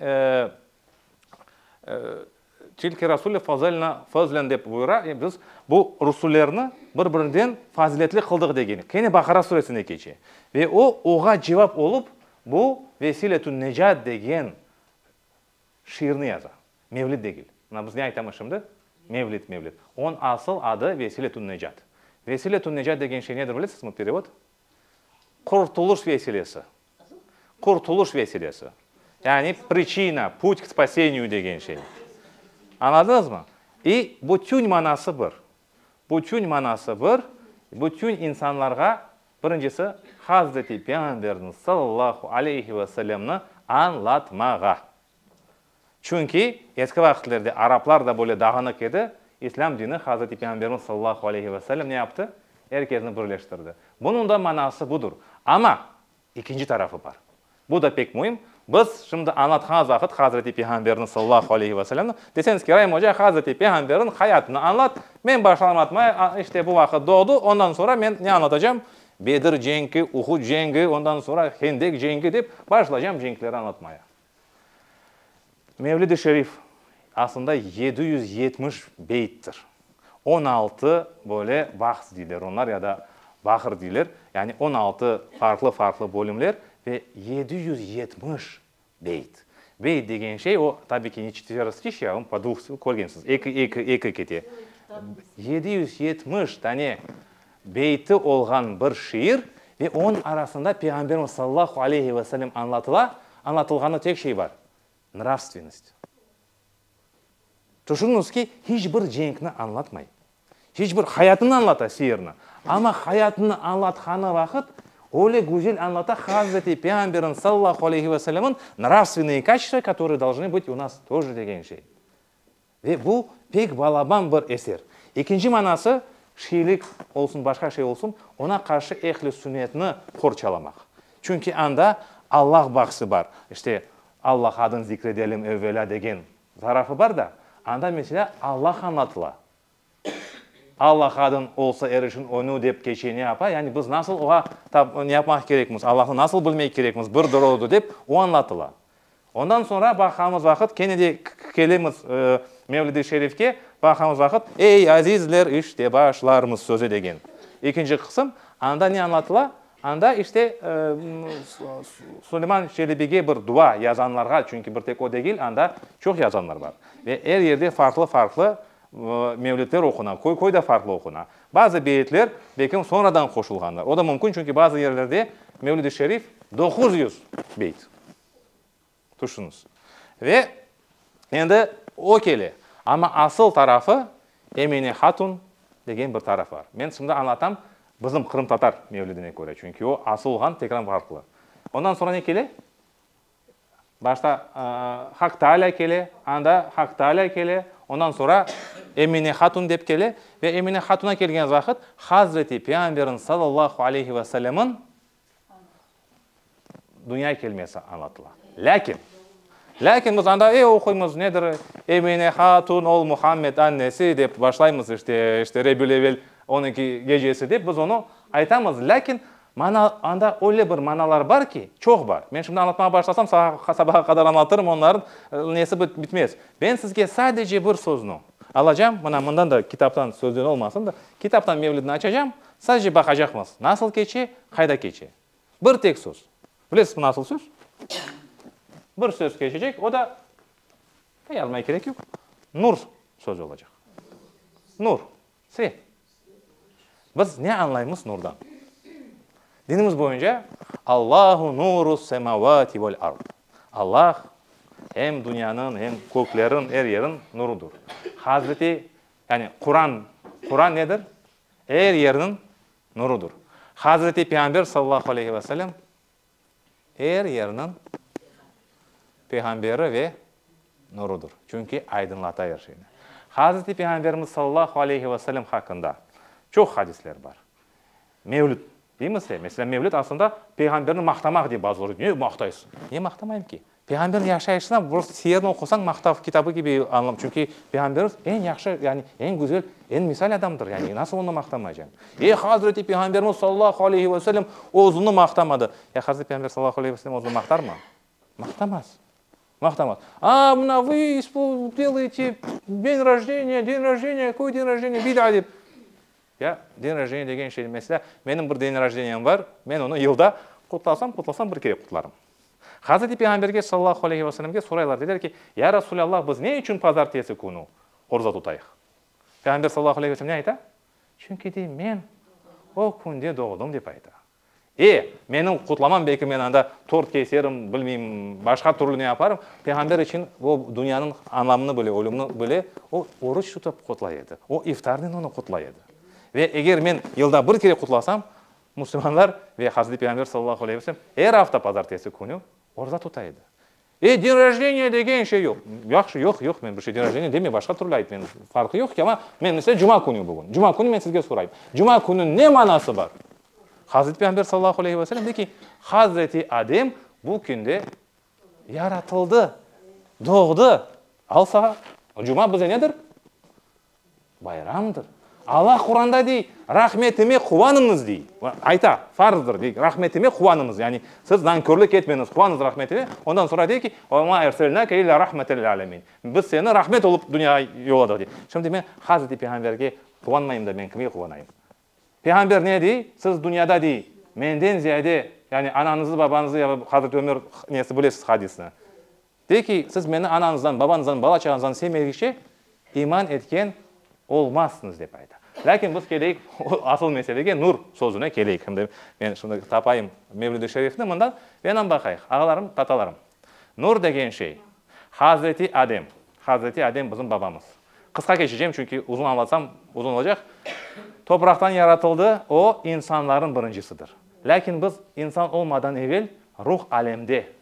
Tilke rasule fazelna fezlen dep buyura, e, biz bu rusullerni bir-birinden faziletli qıldıq degeni. Kene Baqara suresinde keçe. Ve o, oğa cevap olıp, bu Vesiletün Necat degen şiirni yaza. Mevlid degil. Mına biz ne aytamız şimdi? Mevlid, mevlid. Onıñ asıl adı Vesiletün Necat. Vesiletün Necat degen şey nedir, bilesizmi, perevod? Qurtuluş vesilesi. Qurtuluş vesilesi. Yani priçina, put k spaseniyü degen şey. Añladınızmı? İ bütün manası bir. Bütün manası bir, bütün insanlarğa, birincisi, Hazreti Peyğamberni, sallallahu aleyhi ve sellemni, añlatmağa. Çünki eski vaqitlerde araplar da böyle dağınıq edi, İslâm dini Hazreti Peyğamberimiz sallallahu aleyhi ve sellem ne yaptı? Er kesni birleştirdi. Bunıñ da manası budur. Amma ikinci tarafı bar. Bu da pek müim. Biz şimdi añlatqanız vaqıt Hazreti Peyğamberni sallallahu aleyhi ve sellemni, deseñiz ki, Raim oca, Hazreti Peyğamberniñ hayatını añlat, men başını añlatmay, işte bu vaqıt doğdı, ondan sonra men ne añlatacağım? Bedir cenki, Uhud cengi, ondan sonra Hendek cengi dep başlaycam cenkleri añlatmaya. Mevlid-i Şerif, aslında yedi yüz yetmiş beyttir. On altı böyle bahs deyler onlar ya da bahr deyler, yani on altı farqlı-farqlı bölümler ve yedi yüz yetmiş beyt. Beyt degen şey o, tabii ki, ne çetvera stihya, onu po dvuf körgensiz, eki, eki, eki kete. Yedi yüz yetmiş dane Beyti olğan bir şiir ve onıñ arasında Peyğamberimiz sallallahu aleyhi ve sellem añlatıla, añlatılğanı tek şey bar, nravstvennost. Tüşüniñiz ki, hiç bir cenkni añlatmay, hiç bir hayatını añlata şiirni, amma hayatını añlatqanı vaqıt öyle güzel añlata Hazreti Peyğamberimiz sallallahu aleyhi ve sellemniñ nravstvenıye kaçtı, katorıye dolžnı bıt u nas toje degen şey. Ve bu, pek balaban bir eser. Ekinci manası, şiirlik olsun, başqa şey olsun, oña qarşı ehli sünnetni qorçalamaq. Çünki anda Allah bahsi bar. İşte, Allah adın zikredelim evvelâ degen tarafı bar da, anda, meselâ, Allah añlatıla. Alla qadın olsa er işin öñü dep keçe ne yapa, yani biz nasıl oğa tab ne yapmaq kerekmiz, Allahnı nasıl bilmek kerekmiz, bir doroğıdı dep o añlatıla. Ondan soñra baqamız vaqıt kene de kelemiz Mevlid-i Şerifke, baqamız vaqıt, Ey, azizler, işte başlarmız sözü degen ekinci qısım, anda ne añlatıla, anda işte Suleyman Çelebige bir dua yazanlarğa, çünki bir tek o degil, anda çoq yazanlar bar ve er yerde farqlı-farqlı Mevlidler oquna, köy-köyde farqlı oquna. Bazı beyitler belkim sonradan qoşulğandır. O da mümkün, çünki bazı yerlerde Mevlid-i Şerif doquz yüz beyit. Tüşüniz. Ve endi o kele. Amma asıl tarafı Emine Hatun degen bir taraf bar. Men şimdi añlatam bizim qırımtatar mevlidine köre, çünki o asıl olğan tekrar farqlı. Ondan sonra ne kele? Başta Haq Taalâ kele, anda Haq Taalâ kele, ondan soñra Emine hatun dep kele, ve Emine hatuna kelgen vaqıt Hazreti Peyğamberniñ sallallahu aleyhi ve sellemniñ dünya kelmesi añlatıla. Lâkin, lâkin biz anda e oquymız, nedir, Emine hatun, ol Muhammed annesi, dep başlaymız, işte, işte Rebül-Evel onunki gecesi dep biz onı aytamız, lâkin Mana, anda öyle bir manalar bar ki, çoq bar. Men şimdi añlatmağa başlasam, sabaha, sabaha qadar añlatırım, onların nesi bit, bitmez. Ben sizge sadece bir söznü alacam, mına mından da, kitaptan, sözden olmasın da, kitaptan mevlidni açacam, sadece baqacaqmız, nasıl keçe, qayda keçe. Bir tek söz. Bilesizmi, nasıl söz? Bir söz keçecek, o da, yazmaya kerek yoq, nur sözü olacaq. Nur. Svet. Biz ne añlaymız nurdan? Dinimiz boyunca, Allahu nuru semavati vel ard. Allah, em dünyanıñ, em kökleriñ, er yeriñ nurudır. Hazreti, yani Quran, Quran nedir? Er yerniñ nurudır. Hazreti Peyğamber sallallahu aleyhi ve sellem Er yerniñ peyğamberi ve nurudır. Çünki aydınlata er şeyni. Hazreti Peyğamberimiz sallallahu aleyhi ve sellem haqqında çoq hadisler bar. Mevlüt deymiz ya, meselâ, mevlüt aslında peyğamberni maqtamaq dep bazıları, ne maqtaysıñ? Ne maqtamayım ki? Peyğamberniñ yaşayışına prosto siyerni oqusañ maqtav kitabı kibi añlav, çünki Peyğamberimiz eñ yahşı, yani eñ güzel, eñ misal adamdır, yani nasıl onı maqtamaycaq? E, Hazreti Peyğamberimiz sallallahu aleyhi ve sellem özüni maqtamadı. Ya Hazreti Peyğamber sallallahu aleyhi ve sellem özüni maqtarmı? Maqtamaz, maqtamaz. A, mına vıy ispo, delıyte, deñ rojdeniya, deñ rojdeniya, köy deñ rojdeniya, bida dep. Ya, deñ rojdeniya degen şey, mesela, menim bir deñ rojdeniyaim bar, men onı yılda qutlasam, qutlasam, bir kere qutlarım. Hazreti Peyğamberge sallallahu aleyhi ve sellemge soraylar, deyler ki, Ya Rasulâllah, biz ne içün pazartesi künü oruza tutayıq? Peyğamber sallallahu aleyhi ve sellem ne ayta? Çünki dey, men o künde doğdım, dep ayta. E, menim qutlamam, belki men anda tort keserim, bilmeyim, başqa türlü ne yaparım, Peyğamber içün o dünyanıñ anlamını bile, ölümni bile o oruç tutıp qutlay edi, o iftarnen onı qutlay edi. Ve eger men yılda bir kere qutlasam, Müslümanlar ve Hazreti Peyğamber sallallahu aleyhi ve sellem er afta pazartesi künü orza tuta edi. E, din rojdeniya degen şey yoq. Yahşı, yoq, yoq, men bir şey din rojdeniya demey, başqa türlü ayt, men, farqı yoq ki, amma men, mesele, cuma künü bugün. Cuma künü men sizge sorayım. Cuma kününiñ ne manası bar? Hazreti Peyğamber sallallahu aleyhi ve sellem dey ki, Hazreti Adem bu künde yaratıldı, doğdı. Al sağa, cuma bize nedir? Bayramdır. Alla Quranda dey, Rahmetime quvanıñız, dey. Ayta, farzdır, dey, Rahmetime quvanıñız. Yani, siz nankörlik etmeñiz, quvanıñız Rahmetime. Ondan soñra dey ki, Ve ma erselnâke illâ rahmeten lil âlemin. Biz seni rahmet olıp dünyaya yolladıq, dey. Şimdi men Hazreti Peyğamberge quvanmayım da, men kimge quvanayım? Peyğamber ne dey? Siz dünyada dey, menden ziyade, yani anañızı, babañızı, Hazreti Ömer nesi, bilesiz hadisni. De ki, siz meni anañızdan, babañızdan, bala-çağañızdan sevmedigçe iman etken olmazsıñız, dep ayta. Lâkin biz keleyik asıl meselege, nur sözüne keleyik. Hem de men şimdi tapayım Mevlüd-i Şerifni, mında enem baqayıq. Ağalarım, tatalarım, nur degen şey, Hazreti Adem, Hazreti Adem bizim babamız. Qısqa keçecem, çünki uzun añlatsam, uzun olacaq. Topraqtan yaratıldı, o, insanların birincisidir. Lâkin biz insan olmadan evel ruh alemde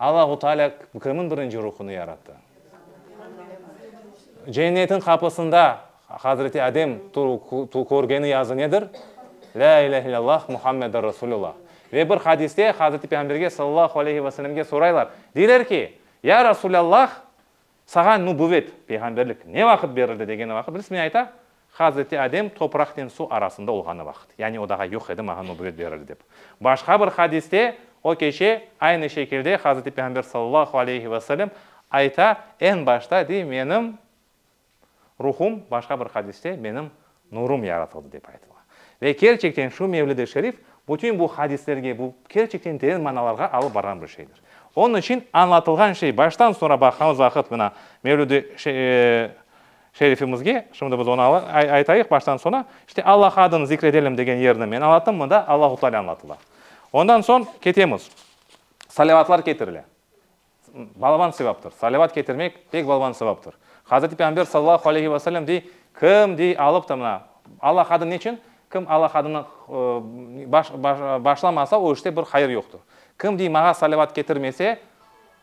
Allahu Taalâ kimin birinci ruhını yarattı? Cennetin qapısında Hazreti Adem körgeni yazı nedir? Lâ ilâhe illâllah Muhammedur Rasulullah. Ve bir hadiste Hazreti Peyğamberge sallallahu aleyhi ve sellemge soraylar, deyler ki, Ya Rasulâllah, Sağa nubüvet, peyğamberlik, ne vaqıt berildi degeni vaqıt bilsiz? Men ayta, Hazreti Adem topraqnen suv arasında olğanı vaqıt. Yani o daha yoq edi, mağa nubüvet berildi dep. Başqa bir hadiste o keçe aynı şekilde Hazreti Peyğamber sallallahu aleyhi ve selem ayta, eñ başta, dey, menim ruhum, başqa bir hadiste, menim Nurum yaratıldı, dep aytıla. Ve kerçekten şu mevlid-i şerif bütün bu hadislerge, bu kerçekten teren manalarğa alıp barğan bir şeydir. Onıñ içün añlatılğan şey baştan soñra baqğanız vaqıt mına mevlid-i şerifimizge, şimdi biz onı aytayıq baştan soña, işte Alla adını zikredelim degen yerni men añlattım, mında Allahu Teala añlatıla. Ondan soñ ketemiz, salavatlar ketirile. Balaban sevaptır. Salavat ketirmek pek balaban sevaptır. Hazreti Peyğamber sallallahu aleyhi ve sellem dey, Kim dey alıp ta mına, Alla hadın neçün? Kim Alla hadını başlamasa, o işte bir hayır yoqtır. Kim dey mağa salavat ketirmese,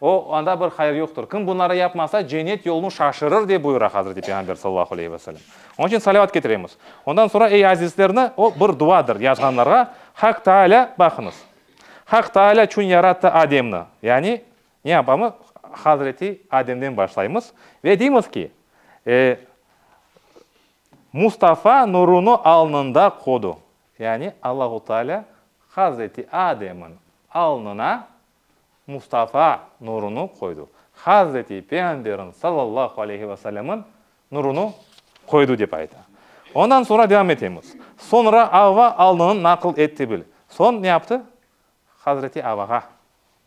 o anda bir hayır yoqtır. Kim bunları yapmasa, cennet yolunu şaşırır, dep buyura Hazreti Peyğamber sallallahu aleyhi ve sellem. Onıñ içün salavat ketiremiz. Ondan soñra, ey azizlerni, o bir duadır, yazğanlarğa Haq Taalâ baqıñız. Haq Taalâ çün yarattı Ademni. Yani, ne yapamız? Hazreti Ademden başlaymız ve deymiz ki, e, Mustafa nurunı alnında qodu. Yani, Allahu Taalâ Hazreti Ademniñ alnına Mustafa nurunı qoydu. Hazreti Peyğamberniñ, sallallahu aleyhi ve sellemniñ, Nurunu qoydu, dep ayta. Ondan soñra devam etemiz. Soñra Avva alnını naql etti bil. Soñ ne yaptı? Hazreti Avvağa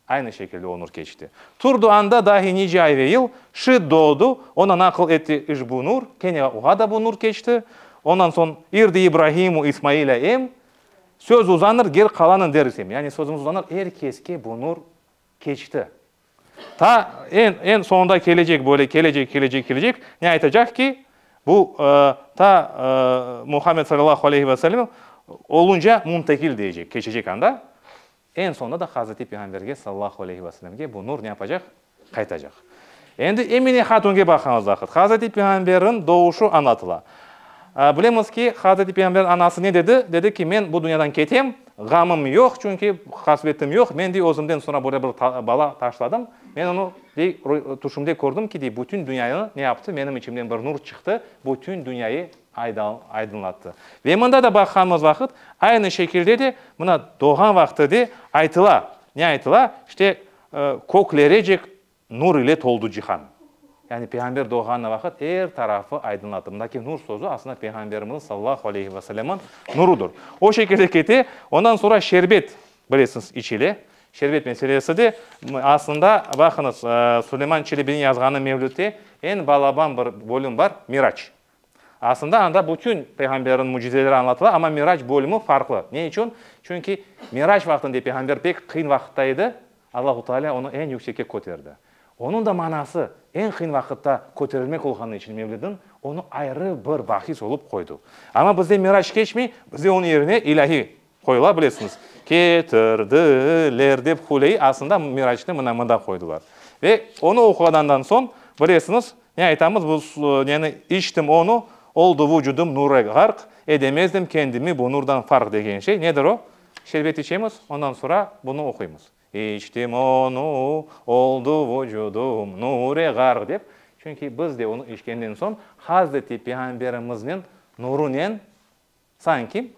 aynı şekilde onur keçti. Turdu anda dahi nice ay ve yıl, şiit doğdu, oña naql etti işbu nur, kene oğa da bu nur keçti. Ondan soñ irdi İbrahimu İsmailâ em, söz uzanır, gel qalanın der isem. Yani sözümüz uzanır, er keske bu nur keçti. Ta eñ, eñ soñunda kelecek böyle kelecek, kelecek, kelecek, ne aytacaq ki, bu ta Muhammed salâllahu aleyhi ve sellemniñ olunca muntegil diyecek, keçecek anda, eñ soñunda da Hazreti Peyğamberge salâllahu aleyhi ve sellemge bu nur ne yapacaq? Qaytacaq. Endi Emine hatunge baqañız vaqıt. Hazreti Peyğamberniñ doğuşu añlatıla. Bilemiz ki, Hazreti Peyğamberniñ anası ne dedi? Dedi ki, men bu dünyadan ketem, Ğamım yoq, çünki hasvetim yoq. Men, dey, özümden soñra böyle bir bala taşladım. Men onı, dey, tüşümde kördim ki, dey, bütün dünyanı ne yaptı? Menim içimden bir nur çıqtı, bütün dünyayı aydınlattı. Ve mında da baqqanımız vaqıt, aynı şekilde de, mına, doğğan vaqtı de aytıla. Ne aytıla? İşte, köklerecek Nur ile toldı cihan. Yani Peyğamber doğğanı vaqıt er tarafı aydınladı. Bundaki nur sözü aslında Peyğamberimizniñ sallallahu aleyhi ve sellemniñ nurudır. O şekilde kete, ondan sonra şerbet, bilesiñiz, içile. Şerbet meselesi de aslında, baqıñız, Suleyman Çelebiniñ yazğanı Mevlütte eñ balaban bir bölüm bar, Mirac. Aslında anda bütün peyğamberniñ mücizeleri añlatıla, amma Mirac bölümi farqlı. Ne içün? Çünki Mirac vaqtında peyğamber pek qıyın vaqıtta edi, Allahu Taalâ onı eñ yüksekke köterdi. Onıñ da manası, eñ qıyın vaqıtta köterilmek olğanı içün mevlidin onı ayrı bir bahis olıp qoydu. Amma bizde Mirac keçmey, bizde onıñ yerine ilâhiy Qoyula bilesiñiz. Ketir di ler dep Huley aslında Miraçnı mına mında qoydılar. Ve onı oquğanandan soñ, bilesiñiz, ne aytamız bu neni, içtim onı, oldu vucudım nure ğarq, edemezdim kendimi bu nurdan farq degen şey, nedir o? Şerbet içemiz, ondan sonra bunı oquymız. İçtim onı, oldu vucudım nure ğarq dep, çünki biz de onı içkenden soñ Hazreti Peyğamberimizniñ nurunen, Sanki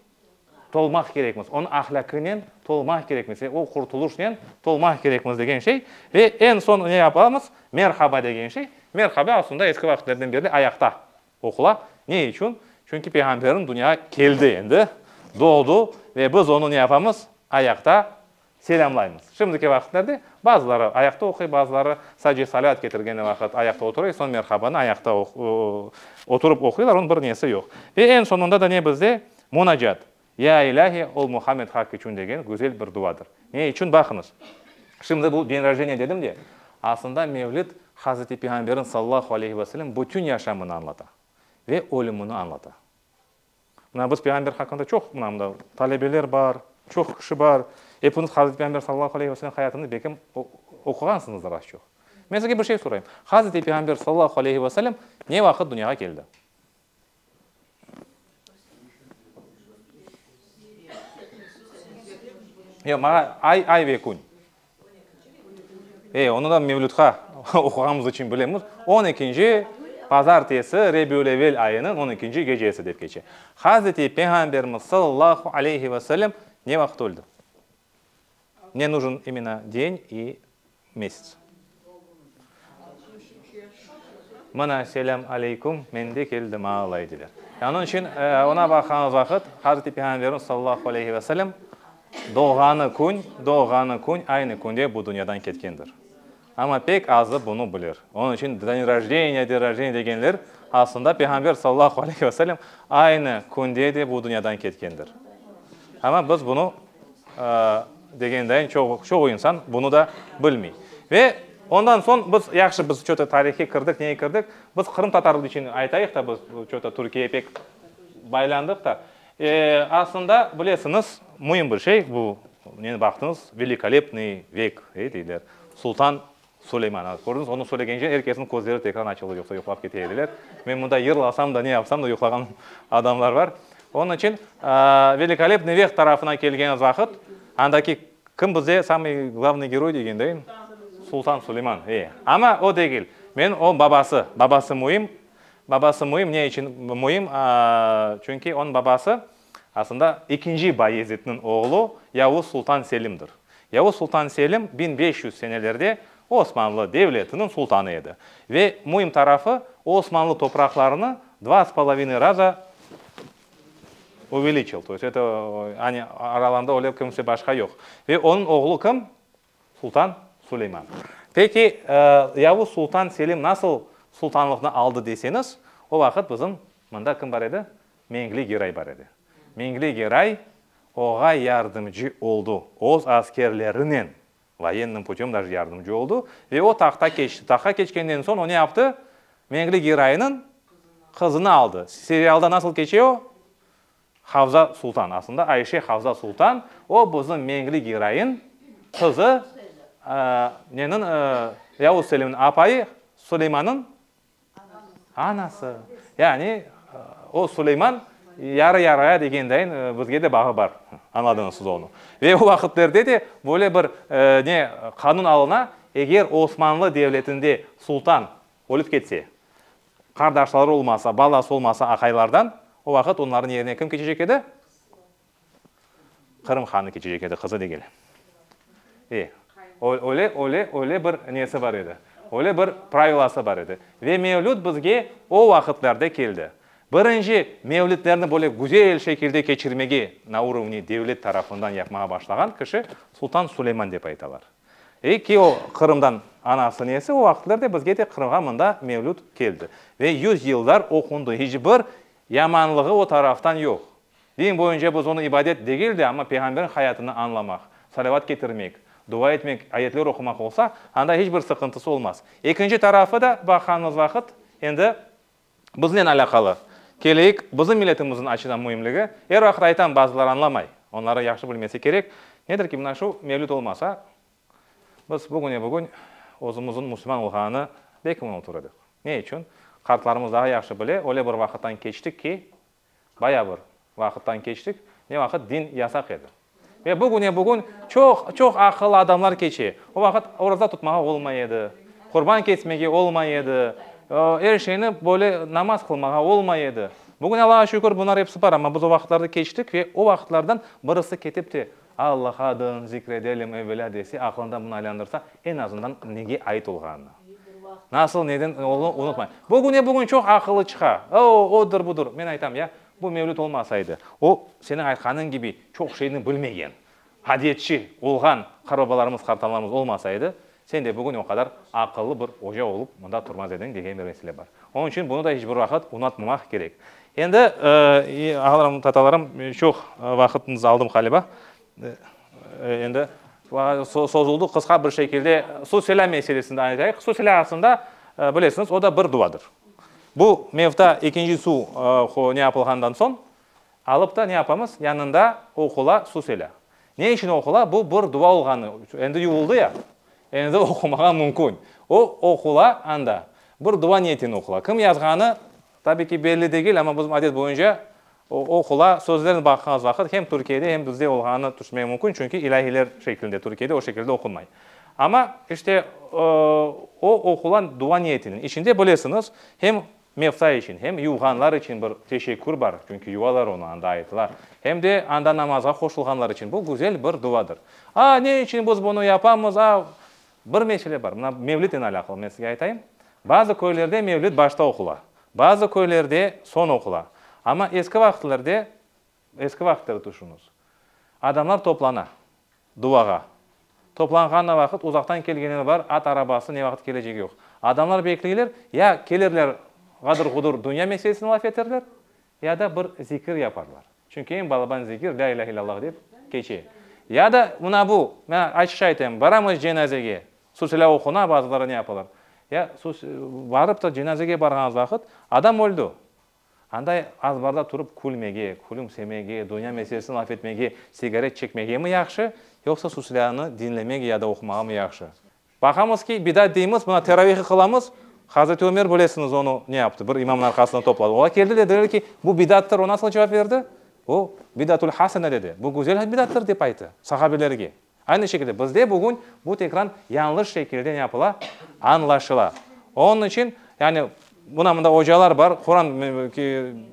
tolmaq kerekmiz, onı ahlâkınen tolmaq kerekmiz ve o qurtulışnen tolmaq kerekmiz degen şey. Ve eñ soñ ne yapamız? Merhaba degen şey. Merhaba aslında eski vaqıtlardan berli ayaqta oqula. Ne içün? Çünki Peyğamberimiz dünyaya keldi endi, doğdu ve biz onı ne yapamız? Ayaqta Selâmlaymız. Şimdiki vaqıtlarda bazıları ayaqta oquy, bazıları sadece salât ketirgeni vaqıt ayaqta oturay, soñ merhabanı ayaqta oturıp oquylar, onıñ bir nesi yoq. Ve eñ soñunda da ne bizde? Munacat. Ya ilâhi, ol Muhammed Haq içün degen güzel bir duadır. Ne içün? Baqıñız, şimdi bu dень rojdeniyâ dedim de, aslında mevlid Hazreti Peyğamberniñ sallallahu aleyhi ve sellem bütün yaşamını añlata ve ölümini añlata. Mına biz peyğamber haqqında çoq, mına mında talebeler bar, çoq kişi bar, epiñiz Hazreti Peyğamber sallallahu aleyhi ve selem hayatını belki oquğansıñızdır az-çoq. Men sizge bir şey sorayım, Hazreti Peyğamber sallallahu aleyhi ve selem ne vaqıt dünyağa keldi? Yoq, maña ay, ay ve kün. E, onı da mevlütqa oquğanımız içün bilemiz. On ekinci pazartesi Rebiül-evvel ayınıñ on ekinci gecesi dep keçe. Hazreti Peyğamberimiz sallallahu aleyhi ve sellem ne vaqıt öldi? Mne nujin imena deny i mesets. Mına, selâm aleyküm, men de keldim alay, dedi. Onıñ içün oña baqğanıñ vaqıt, Hazreti Peyğamberimiz sallallahu aleyhi ve selem doğğanı kün, doğğanı kün aynı künde bu dünyadan ketkendir. Amma pek azı bunı bilir. Onıñ içün deń rojdeniya, deń rojdeniya degenler, aslında Peyğamber sallallahu aleyhi ve selem aynı künde de bu dünyadan ketkendir. Amma biz bunı Degendeñ, çoğu insan bunı da bilmey. Ve ondan soñ biz, yahşı, biz çoğu tarihe kirdik, neye kirdik, biz qırımtatarlar içün aytayıq da, biz çoğu Türkiyege pek baylandıq da. Aslında, bilesiñiz, müim bir şey, bu, neni baqtıñız, Velikolepnıy vek, ey, deyler, Sultan Suleyman, kördiñiz, onı söylegence er kesniñ közleri tekrar açıldı, yoqsa yuqlap kete ediler. Men mında yırlasam da, ne yapsam da yuqlağan adamlar bar. Onıñ içün Velikolepnıy veh tarafına kelgen vaqıt, andaki kim bizde samıy glavnıy geroy degendey? Sultan Suleyman, e. Amma o degil. Men o babası. Babası müim. Babası müim, ne içün müim? Çünki onıñ babası Aslında ekinci Bayezitniñ oğlu Yavuz sultan Selimdir. Yavuz sultan Selim biñ beş yüz senelerde Osmanlı devletiniñ sultanı edi. Ve müim tarafı, o Osmanlı topraqlarını dva s polovinıy raza uveliçil, to есть eto, aralarında öyle kimse başqa yoq. Ve onıñ oğlu kim? Sultan Suleyman. Peki, Yavuz sultan Selim nasıl sultanlıqnı aldı deseñiz, o vaqıt bizim mında kim bar edi? Mengli Geray bar edi. Mengli Geray oğa yardımcı oldu, öz askerlerinen, voenniy putem daje yardımcı oldu ve o tahta keçti. Tahta keçkenden soñ o ne yaptı? Mengli Geraynıñ qızını aldı. Serialda nasıl keçe o? Havza Sultan, aslında Ayşe Havza Sultan, o bizim meñli geroin, qızı, nenin, Yavuz Selimniñ apayı, Suleymannıñ anası. Yani o Suleyman yarı-yarıya degendeyin bizge de bağı bar, añladıñız siz onı. Ve o vaqıtlarda da böyle bir ne qanun alına, eger Osmanlı devletinde Sultan Ölüp ketse, qardaşları olmasa, balası olmasa aqaylardan, o vaqıt onların yerine kim keçecek edi? Qırım hanı keçecek edi, qızı degil. E, öyle, öyle, öyle bir nesi bar edi, öyle bir pravilası bar edi. Ve mevlüt bizge o vaqıtlarda keldi. Birinci mevlütlerni böyle güzel şekilde keçirmege na urovni devlet tarafından yapmağa başlağan kişi Sultan Suleyman dep aytalar. Ve ki o Qırımdan anası nesi, o vaqıtlarda bizge de Qırımğa mında mevlüt keldi. Ve yüz yıllar oqundı, iç bir yamanlığı o taraftan yoq. Din boyunca biz onı ibadet degil de, amma Peyğamberniñ hayatını añlamaq, salavat ketirmek, dua etmek, ayetler oqumaq olsa, anda iç bir sıqıntısı olmaz. Ekinci tarafı da baqqanımız vaqıt, endi Biznen alâqalı. Keleyik, bizim milletimizin açıdan müimligi, er vaqıt aytam, bazılar añlamay, onları yahşı bilmesi kerek, nedir ki, mına şu mevlüt olmasa, biz bugüne-bugün özümizin müslüman olğanını belki unutur edik. Ne içün? Qartlarımız daha yahşı bile, öyle bir vaqıttan keçtik ki, Bayağı bir vaqıttan keçtik, ne vaqıt din yasaq edi. Ve bugüne bugün çoq, çoq aqıllı adamlar keçe. O vaqıt oraza tutmağa olmay edi, qurban kesmege olmay edi, er şeyni böyle namaz qılmağa olmay edi. Bugün Allağa şükür bunlar episi bar, amma biz o vaqıtlardı keçtik ve o vaqıtlardan birisi ketip te Allah adın zikredelim evelâ dese, aqlında bunı aylandırsa, eñ azından nege ait olğanını, nasıl, neden olduğını unutmay. Bugüne bugün çoq aqıllı çıqa, o-o, odur, budur. Men aytam, ya, bu mevlüt olmasaydı, o, seniñ aytqanıñ kibi, çoq şeyni bilmegen, adetçi olğan qarbabalarımız, qartaanlarımız olmasaydı, Sen de bugün o qadar aqıllı bir oca olıp mında turmaz ediñ, degen bir mesele bar. Onıñ içün bunı da iç bir vaqıt unatmamaq kerek. Endi, ağalarım, tatalarım, çoq vaqıtınızı aldım qaliba. Endi sozuldı qısqa bir şekilde Susela meselesinde aytayıq. Susela aslında, bilesiñiz, o da bir duadır. Bu mevta ekinci suv ne yapılğandan soñ, Alıp da ne yapamız? Yanında oqula su sele. Ne içün oqula? Bu bir dua olğanı. Endi yuvuldı ya, endi oqumağa mümkün. O oqula anda. Bir dua niyetinen oqula. Kim yazğanı, tabii ki, belli degil, amma bizim adet boyunca o oqula sözlerine baqğanız vaqıt hem Türkiyede, hem bizde olğanını tüşünmek mümkün, çünki ilâhiler şeklinde, Türkiyede o şekilde oqunmay. Amma işte o oqula dua niyetinen. İçinde, bilesiñiz, hem Mevta içün hem yuvğanlar içün bir teşekkür bar, çünki yuvalar onı anda ayttılar, hem de anda namazğa qoşulğanlar içün bu güzel bir duvadır. A, ne içün biz bunı yapamız? A, bir mesele bar, mına mevlitten alâqlı men sizge aytayım. Bazı köylerde mevlit başta oqula, bazı köylerde soñ oqula. Amma eski vaqıtlarda Eski vaqıtları tüşüñiz. Adamlar toplana, duvağa. Toplanğanına vaqıt, uzaqtan kelgenler bar, at arabası, ne vaqıt kelecegi yoq. Adamlar bekleyler, ya kelirler, ğadır-ğudur dünya meselesini laf eterler, ya da bir zikir yaparlar. Çünki eñ balaban zikir, lâ ilâhe illâllah dep keçe. Ya da mına bu, men açıqça aytayım, baramız cenazege, susilâ oquna, bazıları ne yapalar, ya, barıp da cenazege barğanız vaqıt, adam öldi, Anday azbarda turıp külmege, külümsemege, dünya meselesini laf etmege, sigaret çekmegemi yahşı, yoqsa Susilâni diñlemege ya da oqumağamı yahşı? Baqamız ki, bidat deymiz, mına teravihı qılamız, Hazreti Ömer bilesiñiz onı ne yaptı, bir imamnıñ arqasında topladı. Ola keldi, dediler ki, bu bidattır, o nasıl cevap berdi? O, bidatül hasene dedi, bu güzel bidattır dep ayttı sahabelerge. Aynı şekilde bizde bugün bu tekran yañlış şekilde ne yapıla, añlaşıla. Onıñ içün, yani, mına mında ocalar bar, Quran,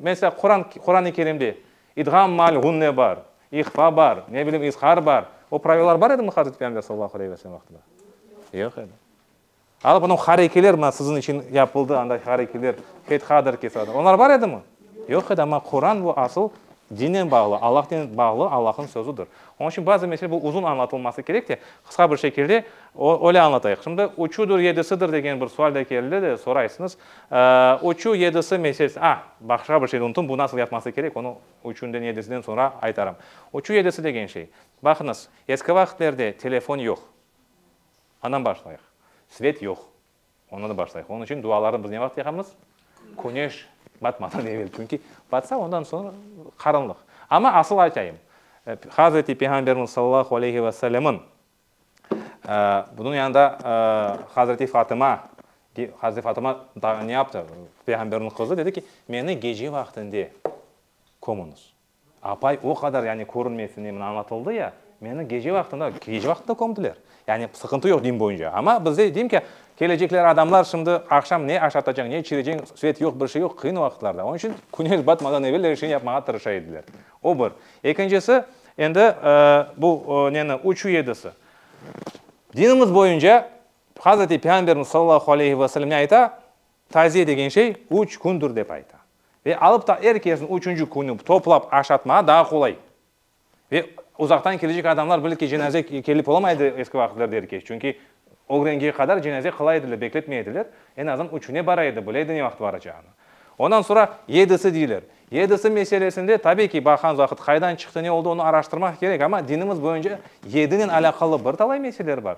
mesela, Quran, Quran-ı Kerimde İdğam maal ğunne bar, ihfa bar, ne bileyim, izhar bar. O pravilalar bar edimi Hazreti Peyğamber sallallahu aleyhi ve sellem vaqtında? Yoq edi. Alıp onıñ harekeler, mına siziñ içün yapıldı anday harekeler, fethadır, kesadır, onlar bar edimi? Yoq edi, amma Quran bu asıl dinnen bağlı, Allahnen bağlı, Allahıñ sözüdir. Onıñ içün bazı mesele bu uzun añlatılması kerek te, qısqa bir şekilde öyle añlatayıq. Şimdi üçüdir, yedisidir degen bir sual da keldi de, soraysıñız. Üçü, yedisi meselesi, a, başqa bir şeyni unutım, bu nasıl yapması kerek, onı üçünden, yedisiden soñra aytarım. Üçü, yedisi degen şey, baqıñız, eski vaqıtlerde telefon yoq. Anam başlayıq. Svet yoq. Ondan da başlayıq. Onıñ içün dualarnı biz ne vaqıt yaqamız? Küneş batmadan evel. Çünki batsa, ondan soñ qaranlıq. Amma asıl aytayım, Hazreti Peyğamberimiz sallallahu aleyhi ve sellemniñ bunıñ yanında Hazreti Fatıma, Hazreti Fatıma ne yaptı? Peyğamberniñ qızı dedi ki, meni gece vaqtında kömüñiz. Apay o qadar, yani körünmesine, mına añlatıldı ya, meni gece vaqtında, gece vaqtında kömdiler. Yani sıqıntı yoq din boyunca. Amma bizde, deyim ki, kelecekler adamlar şimdi aqşam ne aşatacaq, ne içirecek, svet yoq, bir şey yoq, qıyın vaqıtlarda. Onun içün küneş batmadan evel er şeyni yapmağa tırışa ediler. O bir. Ekincisi, endi bu neni, uçuv yedisi. Dinimiz boyunca Hazreti Peyğamberimiz sallallahu aleyhi ve sellemne ayta, Taziye degen şey üç kündür dep ayta. Ve alıp ta er kesni üçünci künü toplap aşatmağa daa qolay. Ve uzaqtan kelecek adamlar bilir ki, cenaze kelip olamaydı eski vaqıtlarda er keç. Çünki ögrenge qadar cenaze qılay ediler, bekletmey ediler. En azından üçüne bara edi, bileydi ne vaqıt baracağını. Ondan sonra yedisi deyler. Yedisi meselesinde tabi ki, baqan vaqıt qaydan çıqtı, ne oldı, onı araştırmaq kerek. Ama dinimiz boyunca yedinen alâqalı bir talay meseleler bar.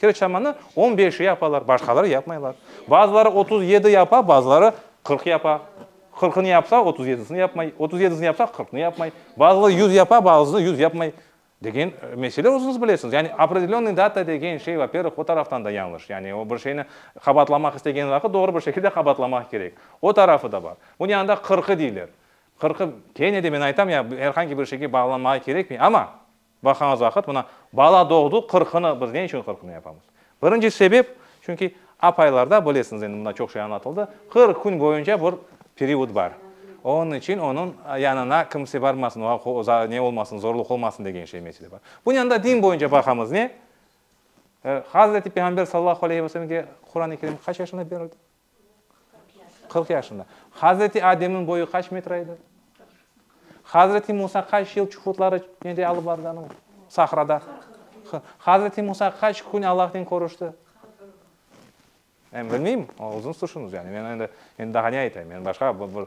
Kerçamanı on beşi yapalar, başqaları yapmaylar. Bazıları otuz yedi yapa, bazıları qırq yapa. Qırqını yapsa, otuz yedisini yapmay, otuz yedisini yapsa, qırqını yapmay. Bazıları yüz yapa, bazısı yüz yapmay. Degen mesele özüñiz bilesiñiz. Yani opredelenyı data degen şey, va pervых, o taraftan da yañlış. Yani o bir şeyni qabaatlamaq istegen vaqıt doğru bir şekilde qabaatlamaq kerek. O tarafı da bar. Bunı anda qırqı deyler. Qırqı, kene de men aytam, ya er hangi bir şeyge bağlanmağa kerekmey. Amma. Baqañız vaqıt, mına, bala doğdu, qırqını, biz ne içün qırqını yapamız? Birinci sebep, çünki apaylarda, bilesiñiz, endi mında çoq şey añlatıldı, qırq kün boyunca bir period bar. Onıñ içün onıñ yanına kimse barmasın, oña ne olmasın, zorluq olmasın degen şey, mesele bar. Bunıñ yanında din boyunca baqamız, ne? Hazreti Peyğamber sallallahu aleyhi ve sellemge Qurani Kerim qaç yaşında berildi? Qırq yaşında. Hazreti Ademniñ boyu qaç metre edi? Hazreti Musa qaç yıl çuhudları nede alıp barğan o? Sahrada. Hazreti Musa qaç kün Allahnen körüşti? Men bilmeyim, uzun suşunuz. Yani men endi, endi daha ne aytayım? Men başqa bir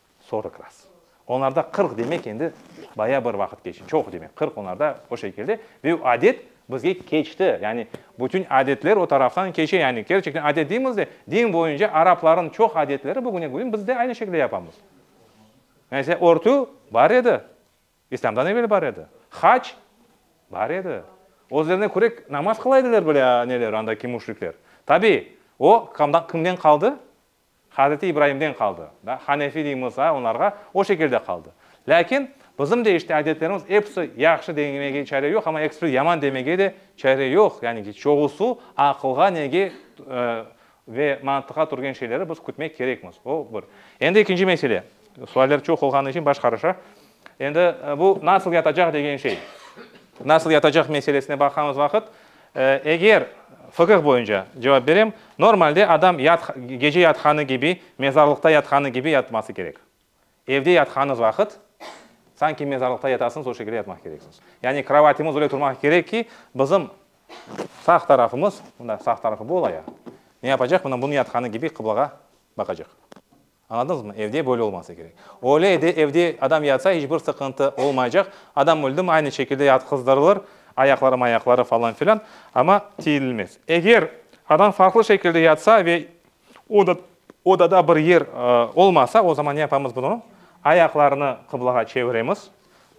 Sorq raz. Onlarda qırq demek endi bayağı bir vaqıt keçti, çoq demek, qırq onlarda o şekilde ve o adet bizge keçti, yani bütün adetler o taraftan keçe, yani kerçekten adet deymiz de, din boyunca arapların çoq adetleri bugüne bugün biz de aynı şekilde yapamız. Mesela örtü bar edi, İslamdan evel bar edi, hac bar edi, özlerine köre namaz qıla ediler bile neler andaki müşrikler. Tabii o kimden qaldı? Hazreti İbraimden qaldı. Da, Hanefi deymiz, a, onlarğa o şekilde qaldı. Lâkin bizim de işte adetlerimiz episi yahşı demege çare yoq, amma episi yaman demege de çare yoq. Yani ki, çoğusu aqılğa nege ve mantıqqa turgen şeyleri biz kütmek kerekmiz. O bir. Endi ekinci mesele. Sualler çoq olğanı içün baş qarışa. Endi bu nasıl yatacaq degen şey. Nasıl yatacaq meselesine baqamız vaqıt, eger fıkıh boyunca cevap berem, normalde adam gece yatqanı kibi, mezarlıqta yatqanı kibi yatması kerek. Evde yatqanıñ vaqıt, sanki mezarlıqta yatasıñız, o şekilde yatmaq kereksiñiz. Yani krovatımız öyle turmaq kerek ki, bizim sağ tarafımız, mında sağ tarafı bu ola ya, ne yapacaq? Mına bunıñ yatqanı kibi qıblağa baqacaq. Añladınızmı? Evde böyle olmasa kerek. Öyle edi, evde adam yatsa, iç bir sıqıntı olmaycaq. Adam öldümi, aynı şekilde yatqızdırılır, ayaqları-mayaqları falan filan, amma tiyilmez. Eger adam farqlı şekilde yatsa ve odada bir yer olmasa, o zaman ne yapamız bunı? Ayaqlarını qıblağa çeviremiz,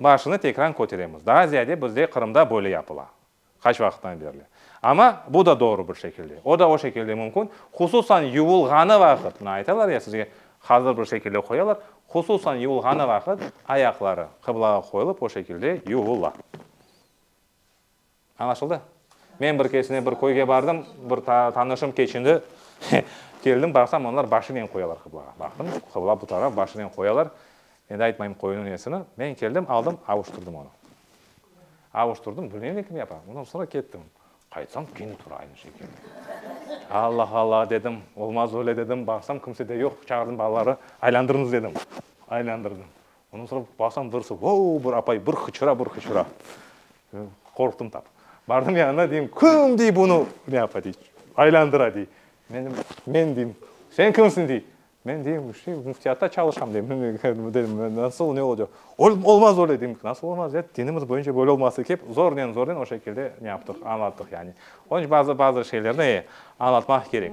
başını tekrar köteremiz. Daa ziyade bizde Qırımda böyle yapıla. Qaç vaqıttan berli. Amma bu da doğru bir şekilde. O da o şekilde mümkün. Hususan yuvulğanı vaqıt, mına aytalar ya sizge, hazır bir şekilde qoyalar, hususan yuvulğanı vaqıt ayaqları qıblağa qoyulıp o şekilde yuvula. Añlaşıldı? Men bir keresinde bir köyge bardım, bir tanışım keçindi, keldim, baqsam, onlar başınen qoyalar qıblağa. Baqtım, qıbla bu taraf, başınen qoyalar. Endi aytmayım köyüniñ nesini. Men keldim, aldım, avuştırdım onı. Avuştırdım, bilmeyim ne kim yapa. Ondan sonra kettim. Qaytsam, kene tura aynı şekilde. Alla, alla dedim, olmaz öyle dedim, baqsam kimse de yoq, çağırdım balaları, aylandırıñız dedim. Aylandırdım. Ondan sonra baqsam birisi, voo, bir apay, bir qıçıra, bir qıçıra. Qorqtım tap. Bardım yanına, deyim, kim dey bunı ne yapa dey, aylandıra dey. Men, men deyim, sen kimsin dey. Men deyim, işte, müftiyatta çalışam, deyim. Dedim, nasıl, ne olacaq? Olmaz öyle, deyim. Nasıl olmaz, ya, dinimiz boyunca böyle olması kerek. Zornen, zornen o şekilde ne yaptıq, añlattıq, yani. Onıñ içün bazı, bazı şeylerni añlatmaq kerek.